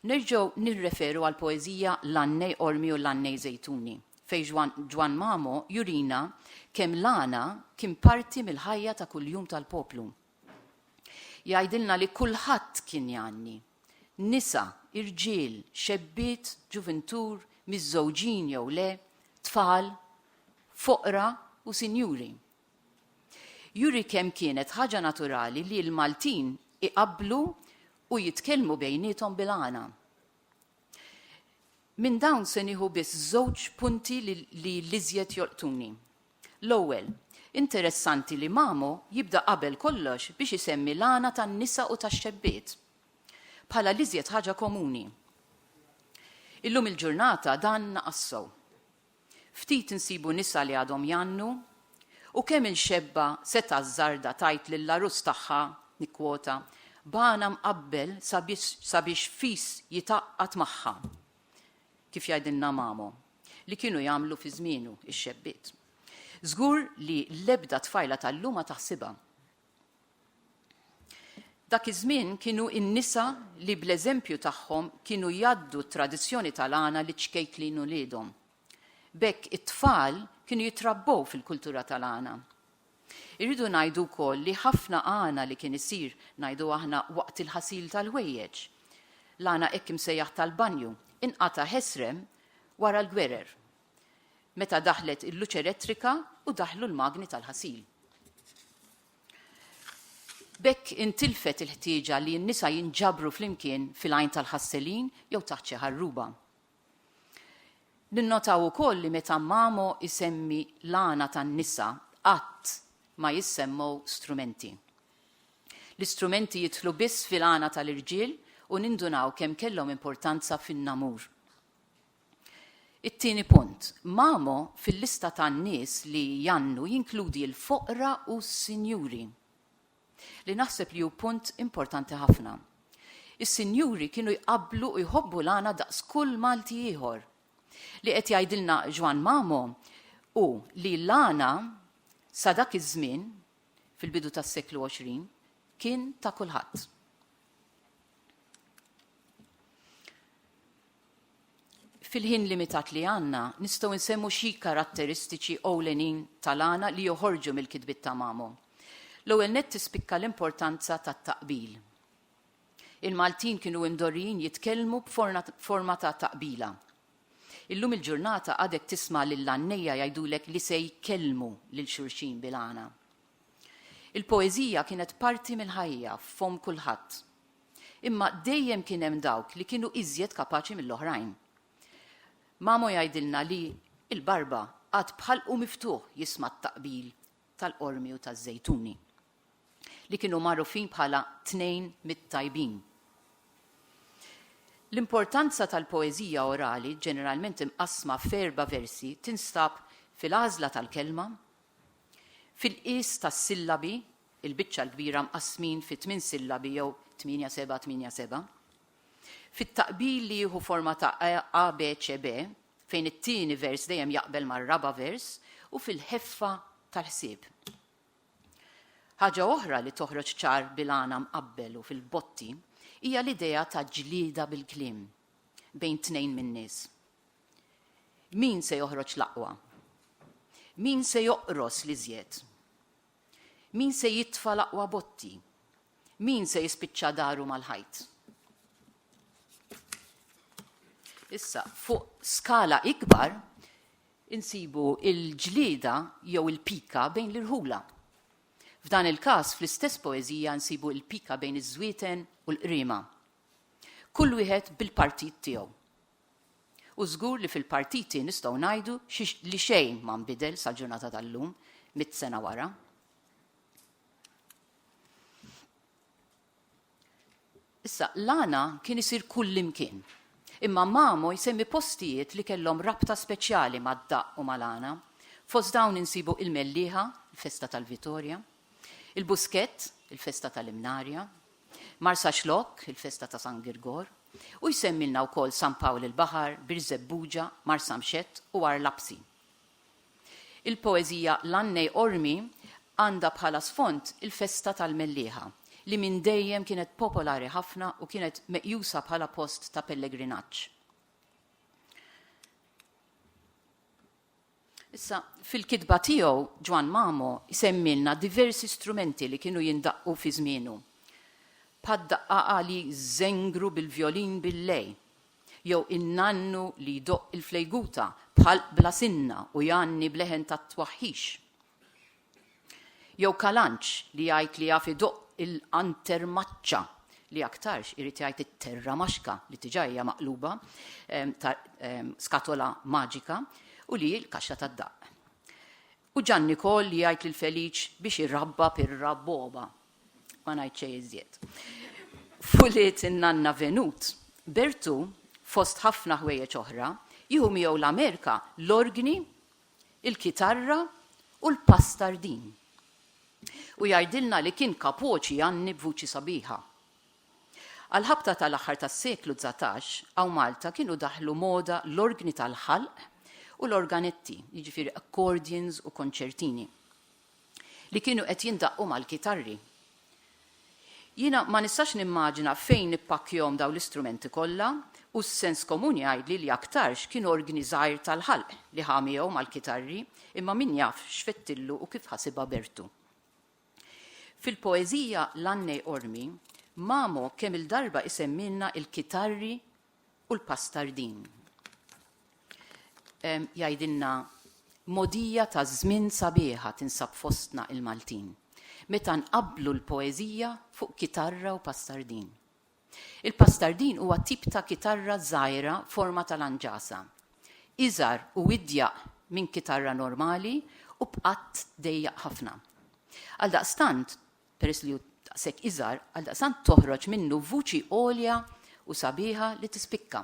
Nerġgħu nirreferu għall-poeżija L-għannej qormi u l-għannej żejtuni, fejn Ġwann Mamo jurina kemm l-għana kien parti mill-ħajja ta' kuljum tal-poplu. Jgħidilna li kulħadd kien jgħanni. Nisa, irġiel, xebbiet, ġuvintur, miżżewġin jew le, tfal, foqra u sinjuri. juri kemm kienet ħaġa naturali li l-Maltin iqabblu u jitkellmu bejniethom bil-Ghana. Minn dawn se nieħu biss żewġ punti li l-iżjed jolqtuni. L-ewwel, interessanti li Mamo jibda qabel kollox biex isemmi l-Ghana tan-nisa u tax-xebbiet, bħala l-iżjed ħaġa komuni. Illum il-ġurnata dan naqas sew. Ftit insibu nisa li għadhom jgħannu, u kemm inxebba' setgħa ż-żarda tgħid lill-għarus tagħha, nikkwota, B'għana mqabbel sabiex fis jitgħaqqad magħha, kif jgħidilna Mamo, li kienu jagħmlu fi żmienu x-xebbiet. Żgur li l-ebda tfajla tal-lum ma taħsibha. Dak iż-żmien kienu n-nisa li bl-eżempju tagħhom kienu jgħaddu t-tradizzjoni tal-għana liċ-ċkejklin uliedhom. B'hekk it-tfal kienu jitrabbew fil-kultura tal-għana. Irridu ngħidu wkoll li ħafna għana li kien isir, ngħidu aħna, waqt il-ħasil tal-ħwejjeġ, l-għana hekk imsejjaħ tal-banju, inqata' ħesrem wara l-gwerer. meta daħlet il-luċ elettrika u daħlu l-magni tal-ħasil. B'hekk intilfet il-ħtieġa li n-nisa jinġabru flimkien fil-għajn tal-ħasselin jew taħt xi ħarruba. Ninnotaw ukoll li meta Mamo isemmi l-għana tan-nisa qatt ma jissemmew strumenti. L-istrumenti jidħlu biss fil-għana tal-irġiel u nindunaw kemm kellhom importanza fin-namur. It-tieni punt, Mamo fil-lista tan-nies li jgħannu jinkludi l-foqra u s-sinjuri, li naħseb li hu punt importanti ħafna. Is-sinjuri kienu jqabblu u jħobbu l-għana daqs kull Malti ieħor. Li qed jgħidilna Ġwann Mamo hu li l-għana sa dak iż-żmien, fil-bidu tas-seklu 20, kien ta' kulħadd. Fil-ħin limitat li għandna, nistgħu nsemmu xi karatteristiċi ewlenin tal-għana li joħorġu mill-kitbiet ta' Mamo. L-ewwel nett tispikka l-importanza tat-taqbil. Il-Maltin kienu imdorrijin jitkellmu b'forma ta' taqbila. Illum il-ġurnata għadek tisma' lill-għannejja jgħidulek li se jkellmu lil xulxin bil-għana. Il-poeżija kienet parti mill-ħajja f'fomm kulħadd. Imma dejjem kien hemm dawk li kienu iżjed kapaċi mill-oħrajn. Mamo jgħidilna li l-barba qagħad b'ħalqu miftuħ jisma' t-taqbil tal-qormi u taż-żejtuni, li kienu magħrufin bħala tnejn mit-tajbin. L-importanza tal-poeżija orali, ġeneralment imqassma f'erba' versi, tinstab fil-għażla tal-kelma, fil-qies tas-sillabi il-biċċa l-kbira mqassmin fi tmien sillabi jew tmienja seba' tmienja seba'. Fit-taqbil li jieħu forma ta' ABCB, fejn it-tieni vers dejjem jaqbel mar-raba' vers, u fil-ħeffa tal-ħsieb. Ħaġa oħra li toħroġ ċar bil-għana mqabbel u fil-botti hija l-idea ta' ġlieda bil-kliem bejn tnejn min-nies. Min se joħroġ l-aqwa? Min se joqros l-iżjed? Min se jitfa' l-aqwa botti? Min se jispiċċa daru mal-ħajt? Issa, fuq skala ikbar, insibu il-ġlieda jew il-pika bejn l-irħula. F'dan il-każ, fl-istess poeżija nsibu il-pika bejn iż-żwieten u l-qriema. Kull wieħed bil-partit tiegħu. U żgur li fil-partiti nistgħu ngħidu li xejn ma nbidel sal-ġurnata tal-lum, mitt sena wara. Issa, l-għana kien isir kullimkien. Imma Mamo jsemmi postijiet li kellhom rabta speċjali mad-daqq u mal-għana. Fost dawn insibu il-Mellieħa, il-festa tal-Vitorja, il-Buskett, il-festa tal-Imnarja, Marsaxlokk, il-festa ta' San Girgor, u jsemmilna wkoll San Pawl il-Baħar, Birżebbuġa, Marsamxett u Għar Lapsi. Il-poeżija L-Għannej Qormi għandha bħala sfond il-festa tal-Mellieħa, li minn dejjem kienet popolari ħafna u kienet meqjusa bħala post ta' pellegrinaġġ. Issa, fil-kitba tiegħu, Ġwann Mamo jsemmilna diversi strumenti li kienu jindaqqu fi żmienu, bħad-daqqaqa li jżengru bil-vjolin bil-lej, jew in-nannu li jdoqq il-flejguta b'ħalq bla sinna u jgħanni b'leħen ta' twaħħix. Jew kalanċ li jgħid li jaf idoqq il-qantermaċċa, li aktarx irid jgħid it-terramaxka li diġà hija maqluba ta' skatola maġika u li hi l-kaxxa tad-daqq. U Ġanni Koll li jgħid lil Feliċ biex irabba pir-rabboba. Ma ngħid xejn iżjed. F'ulied in-nanna Venut, Bertu, fost ħafna ħwejjeġ oħra, jieħu miegħu l-Amerika l-orgni il-kitarra u l-pass tardin. U jgħidilna li kien kapoċi jgħanni b'vuċi sabiħa. Għall-ħabta tal-aħħar tas-seklu dsatax, hawn Malta kienu daħlu moda l-orgni tal-ħalq u l-organetti, jiġifieri accordions u konċertini. li kienu qed jindaqqu mal-kitarri. Jiena ma nistax nimmaġina fejn nippakkjhom dawn l-istrumenti kollha u s-sens komun jgħidli li aktarx kien orgni żgħir tal-ħalq li ħa miegħu mal-kitarri imma min jaf x'fettillu u kif ħasibha b'ertu. Fil-poeżija L-Annej Ormi, Mamo kemm-il darba jsemmilna l-kitarri u l-pastardin. Jgħidilna modija ta' żmien sabiħa tinsab fostna il-Maltin meta nqabblu l-poeżija fuq kitarra u pastardin. Il-pastardin huwa tip ta' kitarra żgħira forma tal-anġasa, iżgħar u idjaq minn kitarra normali u b'qatt dejjaq ħafna. Għaldaqstant, peress li hu daqshekk iżgħar, għaldaqstant toħroġ minnu vuċi għolja u sabiħa li tispikka.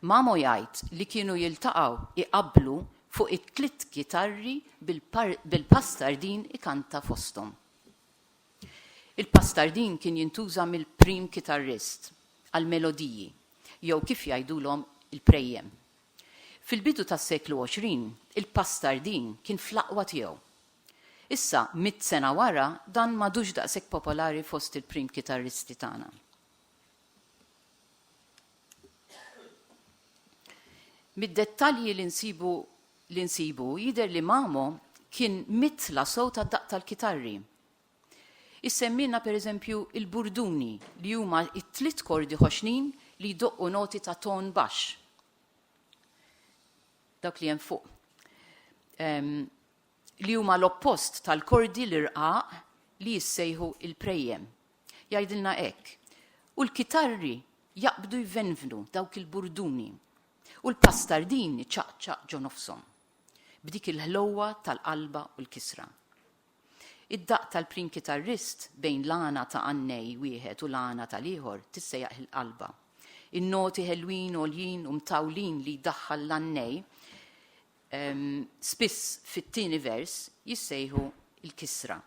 Mamo jgħid li kienu jiltaqgħu iqabblu fuq it-tliet kitarri bil-pastardin ikanta fosthom. Il-pastardin kien jintuża mill-prim kitarrist għall-melodiji jew kif jgħidulhom il-prejjem. Fil-bidu tas-seklu 20, il-pastardin kien fl-aqwa tiegħu. Issa, mitt sena wara, dan m'għadux daqshekk popolari fost il-prim kitarristi tagħna. Mid-dettalji li nsibu li nsibu jidher li Mamo kien mitla sew tad-daqq tal-kitarri. Issemmilna pereżempju il-burduni li huma t-tliet kordi ħoxnin li jdoqqu noti ta' ton baxx. Dawk li hemm fuq. Ehm, li huma l-oppost tal-kordi l-irqaq li jissejħu l-prejjem. Jgħidilna hekk, U l-kitarri jaqbdu jvenvnu dawk il-burduni, u l-pastardin iċaqċaq ġo nofshom, b'dik il-ħlewwa tal-qalba u l-kisra. Id-daqq tal-prim kitarrist bejn l-għana ta' għannej wieħed u l-għana tal-ieħor tissejjaħ il-qalba. In-noti ħelwin għoljin u mtawlin li jdaħħal l-għannej spiss fit-tieni vers jissejħu l-kisra.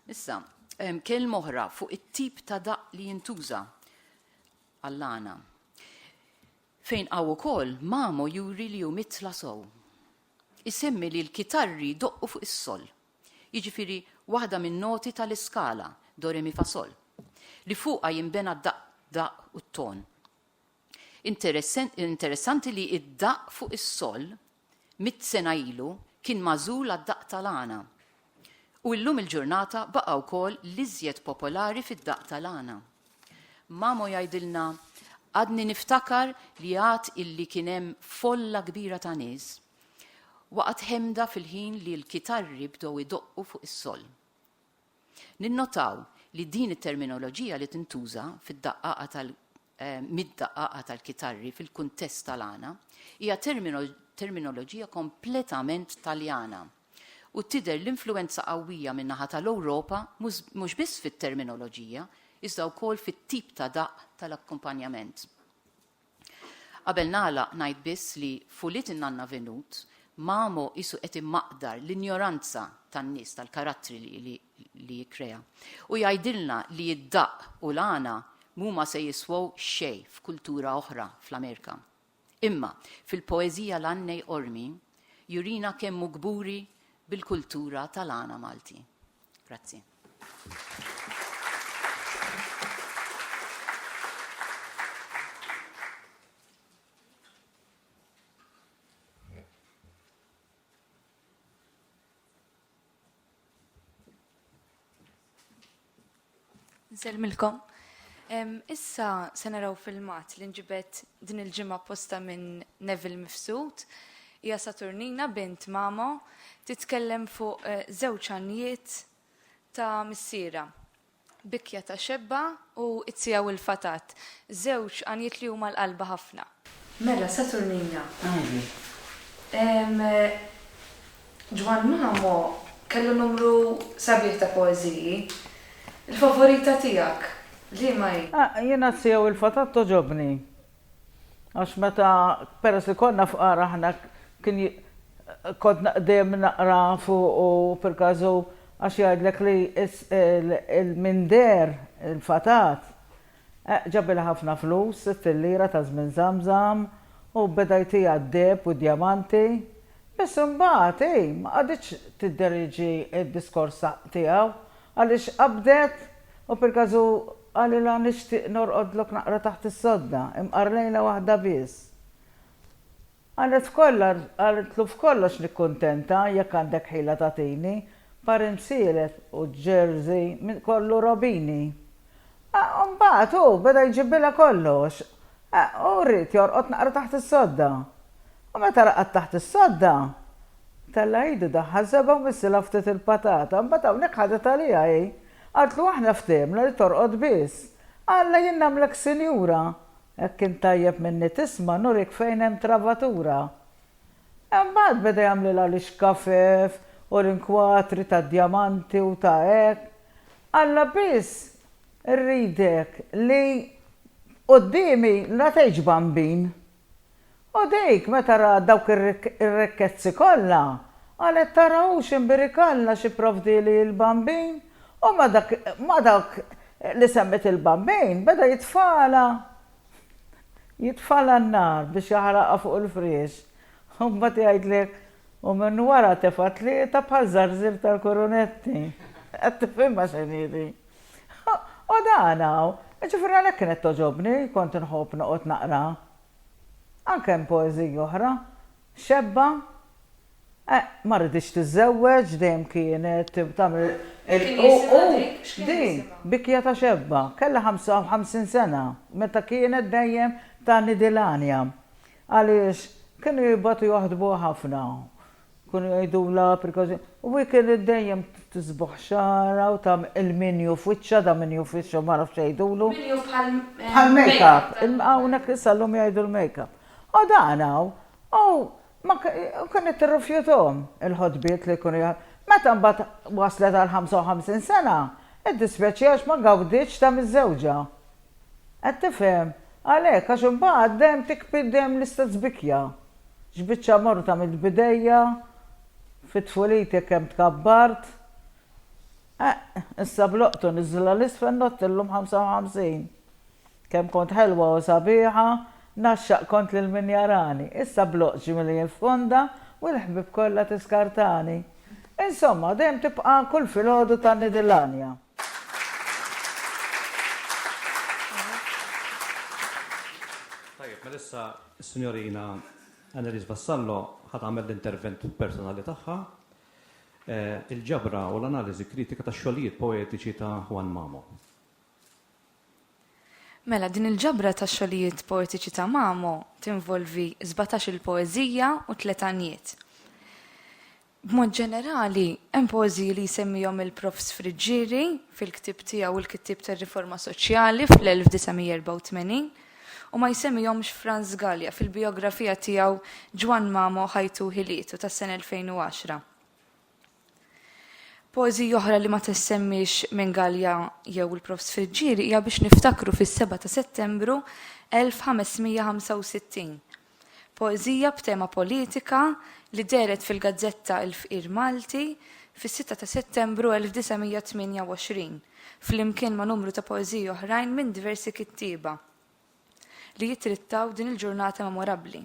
Issa, kelm oħra fuq it-tip ta' daq li jintuża għall-għana. Fejn għaw ukoll mamo juri li hu mitla sow. Isemmi li l-kitarri doqqu fuq is-sol. Jiġifieri waħda minn noti tal-iskala, do re mi fa sol, li fuqha jinbena d-daq u t-ton. Interessanti li id-daqq fuq is-sol mitt sena ilu kien magħżul għad-daqq tal-għana. U illum il-ġurnata baqa' wkoll l-iżjed popolari fid-daqq tal-għana. Mamo jgħidilna, Għadni niftakar li għad illi kien hemm folla kbira ta' nies waqgħet ħemda fil-ħin li l-kitarri bdew idoqqu fuq is-sol. Ninnotaw li din it-terminoloġija li tintuża fid-daqqaqa mid-daqqaqa tal-kitarri fil-kuntest tal-għana hija terminoloġija kompletament Taljana u tidher l-influwenza qawwija min-naħa tal-Ewropa mhux biss fit-terminoloġija iżda wkoll fit-tip ta' daqq tal-akkumpanjament. Qabel nagħlaq ngħid biss li f'Ulied in-Nanna Venut, Mamo qisu qed imaqdar l-injoranza tan-nies tal-karattri li li jikkrea. U jgħidilna li d-daqq u l-għana mhuma se jiswew xejn f'kultura oħra fl-Amerika. Imma, fil-poeżija L-Għannej Qormi, jurina kemm hu kburi bil-kultura tal-għana Malti. Grazzi. Nsellmilkom. Issa se naraw filmat li nġibet din il-ġimgħa posta minn Neville Mifsud. Hija Saturnina bint Mamo titkellem fuq żewġ għanjiet ta' missiera. Bikja ta' xebba u t-siegħa u l-fatat, żewġ għanjiet li huma l-qalba ħafna. Mela, Saturnina. Għandi. Ehm, Ġwann Mamo kellu numru sabiħ ta' poeżiji. Il-favorita tiegħek liema hi? Jiena t-siegħa u l-fatat togħġobni. Għax meta, peress li konna fqar aħna, kien kont dejjem naqra fuq u perkażu għax jgħidlek li l-minder, il-fatat, ġabilha ħafna flus, sitt il-lira ta' żmien Żamżam, u beda jtiha d-deheb u d-djamanti. Biss imbagħad hi ma qagħditx tidder jiġi d-diskors tiegħu Għaliex qabdet, u fil-każ-u qalilha nixtieq norqodlok naqra taħt is-sodda, imqarrlejna waħda biss. Qalet f'kollha, qaltlu f'kollox nikkuntenta, jekk għandek ħila tagħtini, parin sielet u ġerżi minn kollu robini. U mbagħad hu beda jġibbilha kollox u ried jorqod naqra taħt is-sodda. U meta raqad taħt is-sodda, tella' idu daħħal żebgħa u missilha ftit il-patata. Mbagħad hawnhekk ħadet għaliha hi. Qaltlu aħna ftehimna li torqod biss. Alla jien nagħmlek sinjura. Jekk int tajjeb minni tisma' nurik fejn hemm travatura. Imbagħad beda jagħmlilha l-ixkafef u l-inkwatri ta' djamanti u ta' hekk. Alla biss rridek li quddiemi la tgħidx bambin. U dik meta rat dawk ir-rikkezzi kollha, qalet tara hu x'imbirek Alla xi pprovdieli il-bambin u ma' dak li semmiet il-bambin beda jitfagħalha jitfagħalha n-nar biex jaħraqha fuq il-friex, u mbagħad jgħidlek, u minn wara tefa' tlieta bħal żarżir tal-kurunetti. Qed tifhimha x'inhi di? U dan hawn, jiġifieri għalhekk kienet togħġobni, kont inħobb noqgħod naqra. Anke hemm poeżiji oħra, Xebba? Eh, ma riditx tiżżewweġ, dejjem kienet tagħmel il-. Kien jisimha dik? X'kien jisimha? Din, bikja ta' Xebba, kellha 55 sena meta kienet dejjem ta' nidil għanja. Għaliex, kienu jibgħatu joħdbuha ħafna. Kienu jgħidulha precaution. U hi kienet dejjem tisbuħ xagħarha u tagħmel il-minju f'wiċċha, dan minju f'wiċċha ma nafx x'jgħidulu. Minju bħal. Bħal make-up. Hawnhekk issa llum jgħidu l-make-up. O dan hawn, o ma kienet tirrifjuthom il-ħotbiet li jkunu jgħal. Meta mbagħad waslet għal 55 sena, iddispjaċiha għax ma gawditx ta' miżżewġa. Qed tifhem? Għalhekk, għax imbagħad dejjem tikbi dejjem l-istess bikja. X'biċċa morta mill-bidejja, fi tfuliti kemm tkabbart. Eħ, issa b'loqtu niżżilha 'l isfel nott illum 55. Kemm kont ħelwa u sabiħa, Ngħaxxaq kont lil min jarani, Issa bl-oqġi milli jiffonda, U l-ħbieb kollha tiskartani. Insomma, dejjem tibqa' kull filgħodu ta' Nidilanja. Tajjeb, mela issa s-Sinjorina Anneliese Vassallo ħa tagħmel l-intervent personali tagħha, Il-ġabra u l-analiżi kritika tax-xogħlijiet poetiċi ta' Juan Mamo. Mela, din il-ġabra ta' xogħlijiet poetiċi ta' Mamo tinvolvi sbatax-il poeżija u tliet għanjiet. B'mod ġenerali, hemm poeżiji li jsemmihom il-Profs. Friggieri fil-ktieb tiegħu Il-Kittieb tar-Riforma Soċjali fl-1984 u ma jsemmihomx Franz Galea fil-bijografija tiegħu Ġwann Mamo, Ħajtu u Ħilietu tas-sena 2010. Poeżija oħra li ma tissemmiex minn Gallia jew il-Prof. Sfriġġieri hija biex niftakru fis-7 ta' Settembru 1565. Poeżija b'tema politika li dehret fil-gazzetta Il-Fqir Malti fis-6 ta' Settembru 1928, flimkien ma' numru ta' poeżiji oħrajn minn diversi kittieba. li jittrittaw din il-ġurnata memorabbli.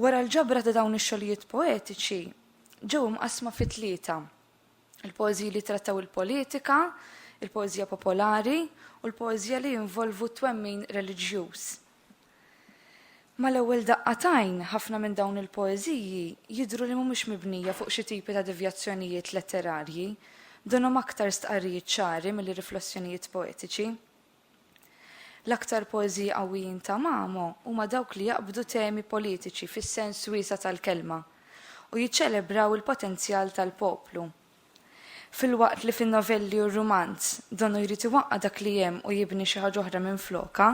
Wara l-ġabra ta' dawn ix-xogħlijiet poetiċi ġew imqassma fi tlieta, il-poeżiji li trattaw il-politika, il-poeżija popolari u l-poeżija li jinvolvu twemmin reliġjuż. Mal-ewwel daqqa tajn, ħafna minn dawn il-poeżiji jidhru li mhumiex mibnija fuq xi tipi ta' devjazzjonijiet letterarji, donhom aktar stqarrijiet ċari milli riflessjonijiet poetiċi. L-aktar poeżiji qawwijin ta' Mamo huma dawk li jaqbdu temi politiċi fis-sens wiesa' tal-kelma u jiċċelebraw il-potenzjal tal-poplu. Filwaqt li fin-novelli u r-rumanz donu jrid iwaqqa' dak li hemm u jibni xi ħaġa oħra minflokha,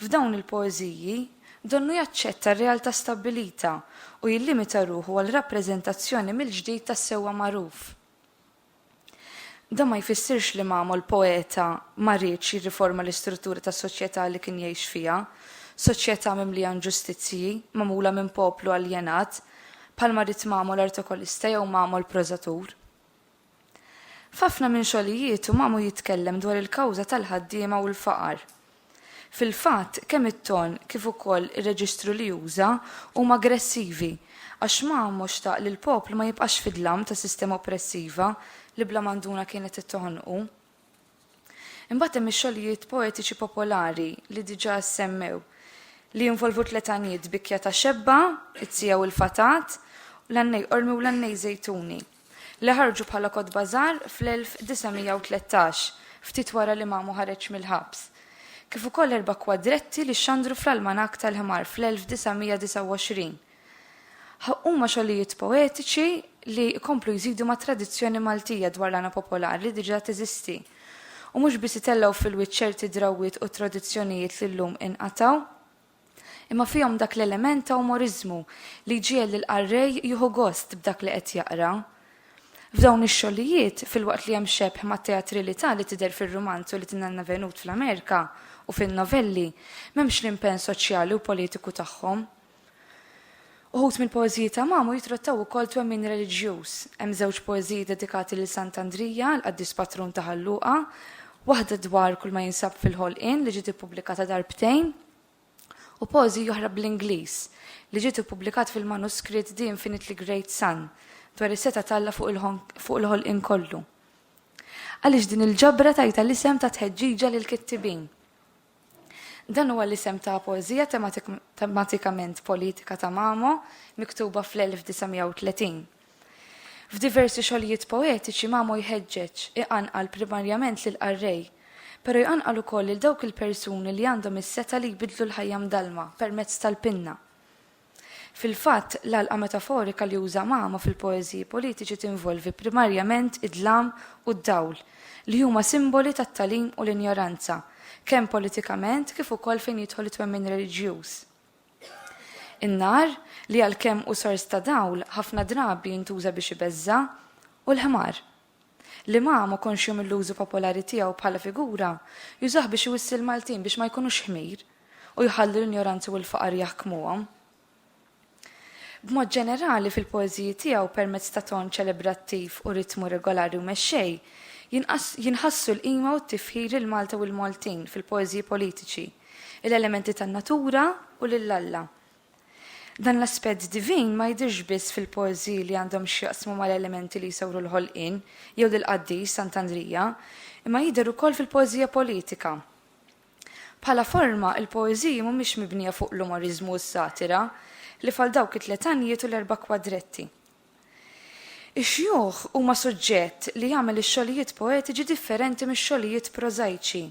f'dawn il-poeżiji donnu jaċċetta r-realtà stabbilita u jillimita ruħu għal rappreżentazzjoni mill-ġdid tas-sewwa magħruf. Dan ma jfissirx li Mamol poeta ma riedx jirriforma l-istruttura tas-soċjetà li kien jgħix fiha, soċjetà mimlija inġustizzji, magħmula minn poplu aljenat, bħalma ried Mamol artokolista jew Mamol prożatur. F'ħafna minn xogħlijietu Mamu jitkellem dwar il-kawża tal-ħaddiema u l-faqar. Fil-fatt, kemm it-ton kif ukoll ir-reġistru li uża huma aggressivi, għax Mamo xtaq li l-poplu ma jibqax fid-dlam ta' sistema oppressiva li bla manduna kienet qed toħonqu. Imbagħad hemm ix-xogħlijiet poetiċi popolari li diġà ssemmew, li jinvolvu tliet għanjiet, Bikkja ta' Xebba, It-Siegħa u l-Fatat, u l-għannej Qormi u l-għannej Żejtuni. li ħarġu bħala kotba żgħar fl-1913, ftit wara li Mamu ħareġ mill-ħabs, kif ukoll erba' kwadretti li xxandru fl-Almanakk tal-Ħmar fl-1929. Huma xogħlijiet poetiċi li jkomplu jżidu mat-tradizzjoni Maltija dwar l-għana popolari li diġà teżisti, u mhux biss itellgħu fil-wiċċ ċerti drawwiet u tradizzjonijiet li llum inqatgħu. imma fihom dak l-element ta' umoriżmu li jġiegħel lill-qarrej jieħu gost b'dak li qed jaqra. F'dawn ix-xogħlijiet, filwaqt li hemm xebh mat-teatralità li tidher fir-rumanz u li tingħanna Venut fl-Amerika u fin-novelli, m'hemmx l-impenn soċjali u politiku tagħhom. Uħud mill-poeżiji ta' Mamo jitrattaw ukoll twemmin reliġjuż. Hemm żewġ poeżiji dedikati lil Sant' Andrija, il-qaddis patrun ta' Ħal Luqa, waħda dwar kull ma jinsab fil-ħolqien li ġiet ippubblikata darbtejn, u poeżija oħra bl-Ingliż, li ġiet ippubblikat fil-manuskritt The Infinitely Great Sun, dwar is-setgħa t'Alla fuq il-ħolqien kollu. Għaliex din il-ġabra tajtha l-isem ta' Tħeġġiġa lill-Kittibin? Dan huwa l-isem ta' poeżija tematikament politika ta' Mamo miktuba fl-1930. F'diversi xogħlijiet poetiċi Mamo jħeġġeġ, iqanqal primarjament lill-qarrej, però jqanqal ukoll lil dawk il-persuni li għandhom is-setgħa li jbiddlu l-ħajja mdallma permezz tal-pinna. Fil-fatt, l-għalqa metaforika li uża Mama fil-poeżiji politiċi tinvolvi primarjament id-dlam u d-dawl, li huma simboli tat-tagħlim u l-injoranza, kemm politikament kif ukoll fejn jidħol it-twemmin reliġjuż. In-nar, li għalkemm hu sors ta' dawl, ħafna drabi jintuża biex ibeżża', u l-ħmar. Li ma ma konx jom il-użu popolari tiegħu bħala figura, jużah biex iwissi l-Maltin biex ma jkunux ħmir u jħalli l-injoranza u l-faqar jaħkmuhom. B'mod ġenerali, fil-poeżiji tiegħu, permezz ta' ton ċelebrattiv u ritmu regolari u mexxej, jinħassu l-qima u t-tifħir lil Malta u l-Maltin fil-poeżiji politiċi, il-elementi tan-natura u lil Alla. Dan l-aspett divin ma jidhirx biss fil-poeżiji li għandhom x'jaqsmu mal-elementi li jsawru l-ħolqien jew lill-qaddis Sant'Andrija, imma jidher ukoll fil-poeżija politika. Bħala forma, il-poeżiji mhumiex mibnija fuq l-umoriżmu u s-satira, ħlief għal dawk it-tliet għanjiet u l-erba' kwadretti. Ix-xjuħ huma suġġett li jagħmel ix-xogħlijiet poetiċi differenti mix-xogħlijiet prożajċi.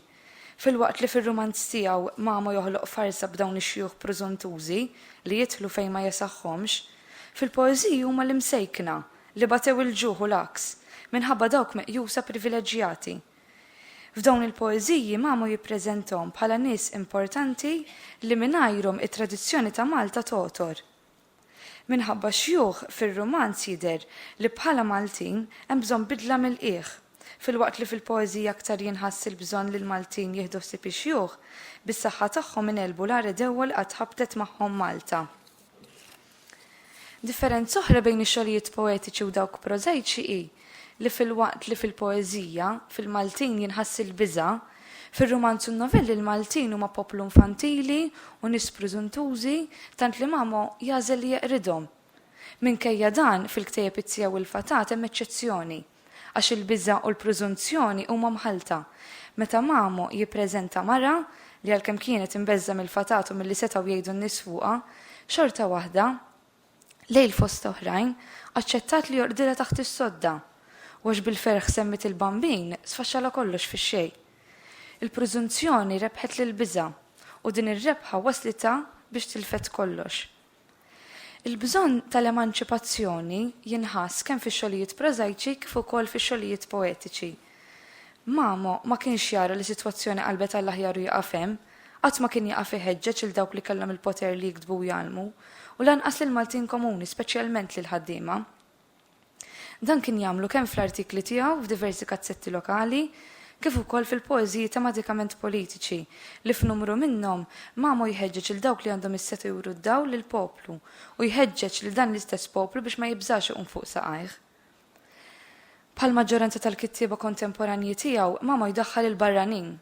Filwaqt li fir-rumanz tiegħu Mamo joħloq farsa b'dawn ix-xjuħ prużuntużi li jidħlu fejn ma jesaħħhomx, fil-poeżiji huma l-imsejkna li batew il-ġuħ u l-għaks, minħabba dawk meqjusa privileġġjati. F'dawn il-poeżiji Mamo jippreżentahom bħala nies importanti li mingħajrhom it-tradizzjoni ta' Malta togħtor. Minħabba x-xjuħ fir-rumanz jidher li bħala Maltin hemm bżonn bidla mill-qiegħ. Filwaqt li fil-poeżija aktar jinħass il-bżonn li l-Maltin jieħdu ħsieb ix-xjuħ, bis-saħħa tagħhom ingħelbu l-agħar għedewwa li qatt ħabtet magħhom Malta. Differenza oħra bejn ix-xogħlijiet poetiċi u dawk prożajċi hi li filwaqt li fil-poeżija, fil-Maltin jinħass il-biża', fir-rumanz u n-novelli l-Maltin huma poplu nfantili u nies prużuntużi tant li Mamo jagħżel li jeqridhom. Minkejja dan, fil-ktejjeb Izzija u l-Fatat hemm eċċezzjoni, għax il-biża' u l-prużunzjoni huma mħallta. Meta Mamo jippreżenta mara li għalkemm kienet imbeżża' mill-fatat u milli setgħu jgħidu n-nies fuqha, xorta waħda, Lejl fost oħrajn, aċċettat li joqdilha taħt is-sodda, u għax bil-ferħ semmiet il-Bambin, sfaxxalha kollox fix-xejn. Il-prużunzjoni rebħet lill-biża', u din ir-rebħa wasslitha biex tilfet kollox. Il-bżonn tal-emanċipazzjoni jinħass kemm fix-xogħlijiet prożajċi kif ukoll fix-xogħlijiet poetiċi. Mamo ma kienx jara li sitwazzjoni qalbet għall-aħjar u jaqaf hemm. Qatt ma kien jaqaf iħeġġeġ lil dawk li kellhom il-poter li jiktbu u jgħallmu, u lanqas lill-Maltin komuni, speċjalment lill-ħaddiema. Dan kien jagħmlu kemm fl-artikli tiegħu f'diversi kazzetti lokali, kif ukoll fil-poeżiji tematikament politiċi, li f'numru minnhom Mamo jħeġġeġ lil dawk li għandhom is-setgħa juru d-dawl lill-poplu, u jħeġġeġ lil dan l-istess poplu biex ma jibżax iqum fuq saqajh. Bħall-maġġoranza tal-kittieba kontemporanji tiegħu, Mamo jdaħħal il-barranin.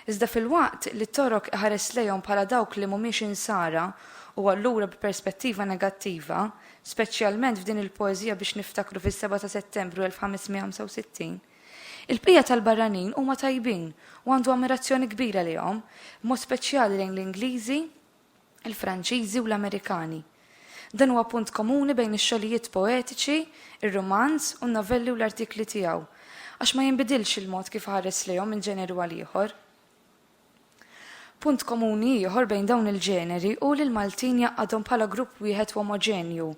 Iżda filwaqt li Torok iħares lejhom bħala dawk li mhumiex Insara u allura bi perspettiva negattiva, speċjalment f'din il-poeżija Biex Niftakru fis-Sebgħa ta' Settembru 1565, il-bqija tal-barranin huma tajbin u għandu ammirazzjoni kbira lejhom, b'mod speċjali lejn l-Ingliżi, il-Franċiżi u l-Amerikani. Dan huwa punt komuni bejn ix-xogħlijiet poetiċi, ir-rumanz u n-novelli u l-artikli tiegħu, għax ma jinbidilx il-mod kif iħares lejhom minn ġeneru għal ieħor. Punt komuni ieħor bejn dawn il-ġeneri hu li l-Maltin jgħaqqadhom bħala grupp wieħed u omoġenju,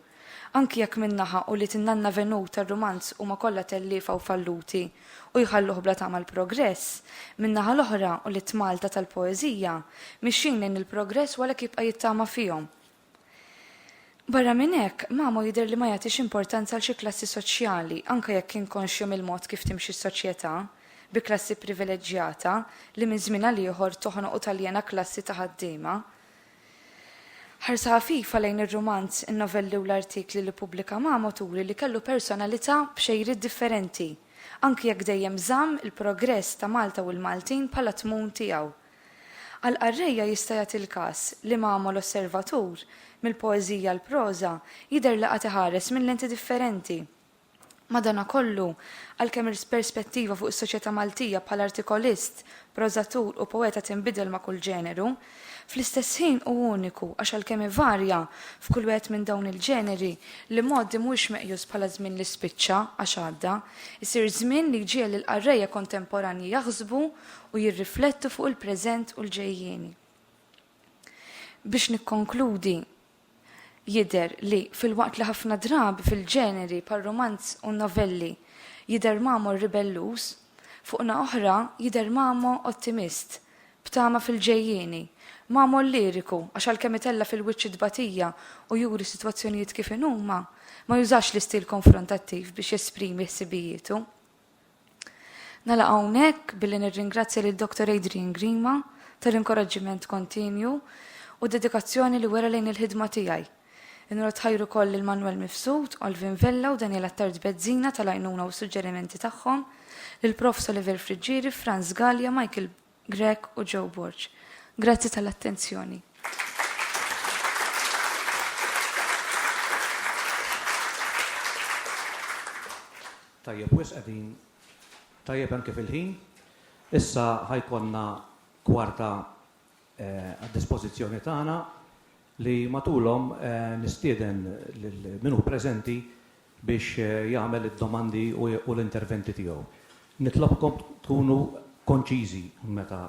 Anki jekk minn naħa u li tinnanna venut tar-rumanz huma kollha telliefa u falluti u jħalluh bla tama l-progress, min-naħa l-oħra u li t-Malta tal-poeżija mixjin lejn il-progress u għalhekk jibqa' jittama fihom. Barra minn hekk, Mamo jidher li ma jagħtix importanza għal xi klassi soċjali, anke jekk kien konxju mill-mod kif timxi s-soċjetà, bi klassi privileġġjata li minn żmien għal ieħor toħnoq u taljena klassi ta' ħaddiema. Ħarsa ħafifa lejn ir-rumanz, in-novelli u l-artikli li pubblika Mamo turi li kellu personalità b'xejriet differenti, anki jekk dejjem żamm il-progress ta' Malta u l-Maltin bħala tmun tiegħu. Għall-qarrejja jista' jagħti l-każ li Mamo l-osservatur, mill-poeżija għall-proża, jidher li qagħad iħares minn lenti differenti, Madanakollu, għalkemm il-perspettiva fuq is-soċjetà Maltija bħala artikolist, prożatur u poeta tinbidel ma' kull ġeneru, fl-istess ħin hu uniku għax għalkemm ivarja f'kull wieħed minn dawn il-ġeneri, l-imgħoddi mhuwiex meqjus bħala żmien li spiċċa għax għadda, isir żmien li jġiegħel lill-qarrejja kontemporanji jaħsbu u jirriflettu fuq il-preżent u l-ġejjieni. Biex nikkonkludi, Jidher li, filwaqt li ħafna drabi fil-ġeneri bħar-rumanz u n-novelli jidher Mamo ribelluż, fuq naħa oħra jidher Mamo ottimist, b'tama fil-ġejjieni, Mamo lliriku għax għalkemm itella' fil-wiċċ it-tbatija u juri s-sitwazzjonijiet kif inhuma, ma jużax l-istil konfrontattiv biex jesprimi ħsibijietu. Nagħlaq hawnhekk billi nirringrazzja lil Dr. Adrian Grima tal-inkoraġġiment kontinju u d-dedikazzjoni li wera lejn il-ħidma tiegħi. Inrot ħajr ukoll lil Manwel Mifsud, Alvin Vella u Daniel Attard Bezzina tal-għajnuna u s-suġġerimenti tagħhom, lill-Prof. Soliver Friggieri, Frans Galea, Michael Grech u Joe Borg. Grazzi tal-attenzjoni. Tajjeb wisq qegħdin tajjeb hemm kif il-ħin. Issa ħa jkollna kwarta għad-dispożizzjoni tagħna. li matulhom nistieden lil min hu preżenti biex jagħmel id-domandi u l-interventi tiegħu. Nitlobkom tkunu konċiżi meta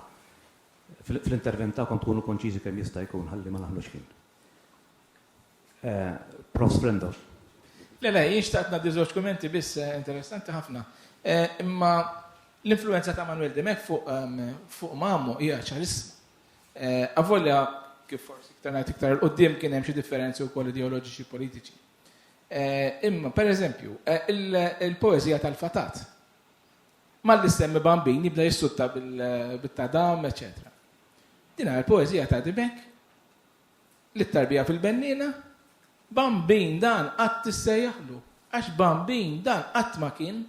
fl-intervent tagħkom tkunu konċiżi kemm jista' jkun ħalli ma naħlux ħin. Prof. Frendov. Le, le, jien xtaqt ngħaddi żewġ kummenti biss interessanti ħafna. Imma l-influwenza ta' Manuel Dimech fuq Mamo hija ċarissima. Avolja, kif forsi iktar ngħid iktar 'il quddiem kien hemm xi differenzi wkoll ideoloġiċi politiċi. Imma, per eżempju, il-poeżija tal-fatat. Malli semmi bambin jibda jissutta bil-tadam, eċetera. Din hija l-poeżija ta' Dibek li tarbija fil-bennina, bambin dan qatt tissejjaħlu, għax bambin dan qatt ma kien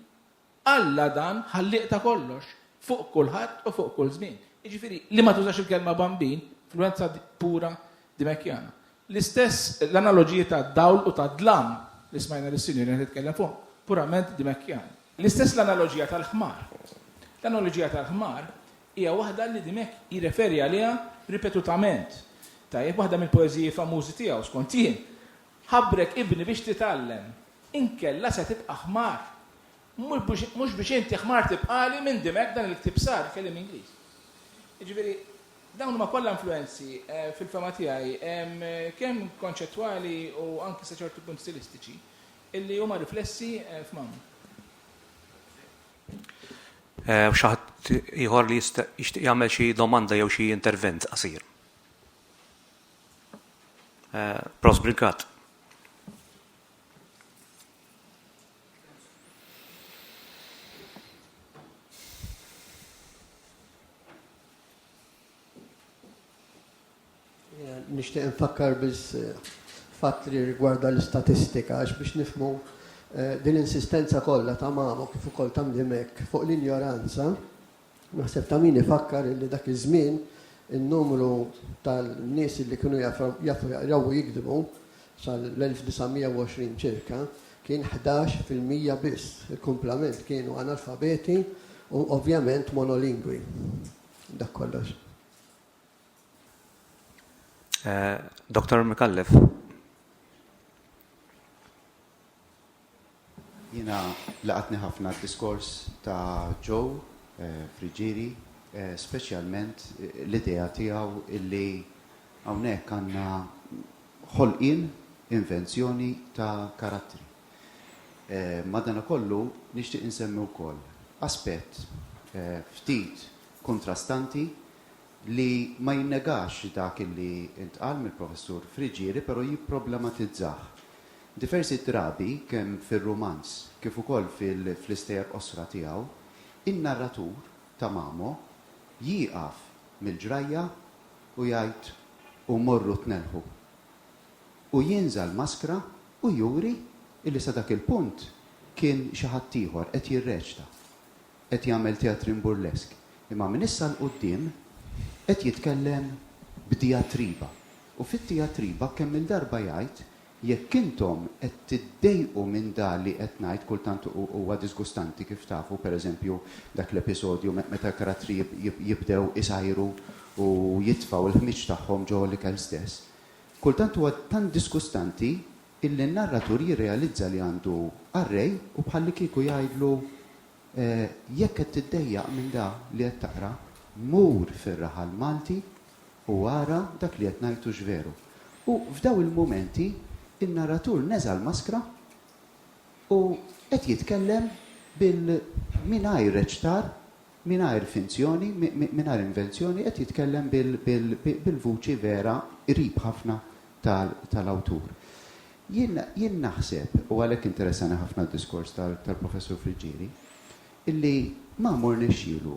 Alla dan ħallieq ta' kollox, fuq kulħadd u fuq kull żmien. Jiġifieri, li ma tużax il-kelma bambin, influwenza pura Dimekjana. L-istess l-analoġiji tad-dawl u tad-dlam li smajna lis-Sinjura qed titkellem fuqhom, purament Dimekjani. L-istess l-analoġija tal-ħmar. L-analoġija tal-ħmar hija waħda li Dimech jirreferi għaliha ripetutament. Tajjeb, waħda mill-poeżiji famużi tiegħu, skont jien, Ħabrek ibni biex titgħallem, inkella se tibqa' ħmar. Mhux biex inti ħmar tibqali minn dimek dan il-ktieb sar, kliem Ingliż. Jiġifieri dawn huma kollha influwenzi fil-fehma tiegħi kemm konċettwali u anki sa ċertu punt stilistiċi illi huma riflessi f'Mamma. Hawn xi ħadd ieħor li jixtieq jagħmel xi domanda jew xi intervent qasir? Eh, Pros Brigat. nishtiq nfakkar biss eh, fatt li rigwarda l-istatistika għax biex nifmu eh, din insistenza kollha ta' mamu kif ukoll ta' mdimek fuq l-injoranza Naħseb ta' min ifakkar illi dak iż-żmien in-numru tal-nies illi kienu jafu jaqraw u jiktbu sal-1920 ċirka kien 11 fil-mija biss. Il-kumplament kienu analfabeti u ovvjament monolingwi. Dak kollox. Eh, Dr. Mikallef. Jiena laqatni ħafna d-diskors ta' Joe Friggieri, speċjalment l-idea tiegħu illi hawnhekk għandna ħolqien, invenzjoni ta' karattri. Madanakollu nixtieq insemmi wkoll aspett ftit kuntrastanti li ma jinnegax dak illi ntqal mill-Professur Friggieri però jipproblematizzah. Diversi drabi, kemm fir-rumanz kif ukoll fl-istejjer qosra tiegħu, in-narratur, Tamamo, jieqaf mill-ġrajja u jgħid u morru tnellħu. U jinża' l-maskra u juri illi sa dak il-punt kien xi ħadd ieħor, qed jirreċta, qed jagħmel teatrin burlesk, imma minn issa 'l quddiem qed jitkellem b'dijatriba. U fit-dijatriba kemm-il darba jgħid Jekk intom qed tiddejqu minn da li qed ngħid, kultant huwa diżgustanti kif tafu, per eżempju, dak l-episodju meta l-karattri jibdew isajru u jitfgħu l-ħmieġ tagħhom ġo l-ikel stess. Kultant huwa tant diżgustanti illi n-narratur jirrealizza li għandu għar-Re u bħallikieku jgħidlu, Jekk qed tiddejjaq minn da li qed taqra, mur fir-raħal Malti u ara dak li qed ngħid hux veru. U f'daw il-mumenti n-narratur neża' l-maskra u qed jitkellem bil mingħajr reċtar, mingħajr finzjoni, mingħajr invenzjoni, qed jitkellem bil bil-vuċi vera qrib ħafna tal-awtur. Jien, jien naħseb, u għalhekk interessani ħafna d-diskors tal, tal-Professur Friggieri, illi Mamo rnexxielu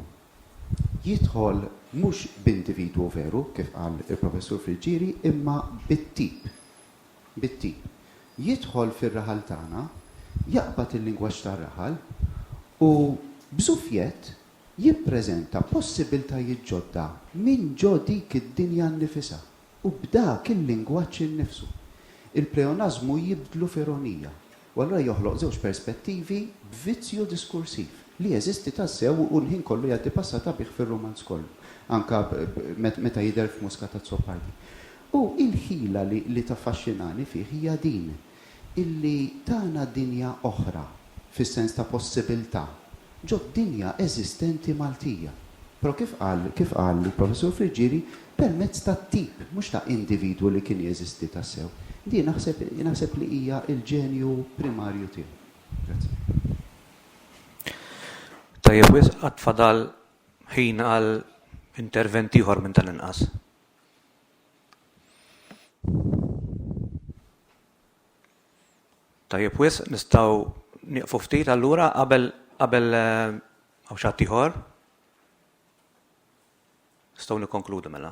jidħol mhux b'individwu veru, kif qal il-Professur Friggieri, imma bit-tip, bit-tip. Jidħol fir-raħal tagħna, jaqbad il-lingwaġġ tar-raħal u b'żufjett jippreżenta possibbiltajiet ġodda minn ġo dik id-dinja nnifisha. U b'dak il-lingwaġġ innifsu, il-pleonażmu jibdlu f'ironija, u allura joħloq żewġ perspettivi b'vizzju diskursiv, li jeżisti tassew u l-ħin kollu jgħaddi passata bih fir-rumanz kollu, anke meta jidher f'Muscat Azzopardi. U l-ħila li taffaxxinani fih hija din. illi tana dinja oħra, fis-sens ta' possibiltà, ġod-dinja eżistenti Maltija. Però kif qal kif qal il-Professur Friggieri, permezz ta' tip, mhux ta' individwu li kien jeżisti tassew. Din naħseb naħseb li hija l-ġenju primarju tiegħu. Grazzi. Tajjeb wisq, għad fadal ħin għal intervent ieħor minn tal-inqas. Tajjeb wisq, nistgħu nieqfu ftit allura qabel qabel hawn xi ħadd ieħor? Nistgħu nikkonkludu mela.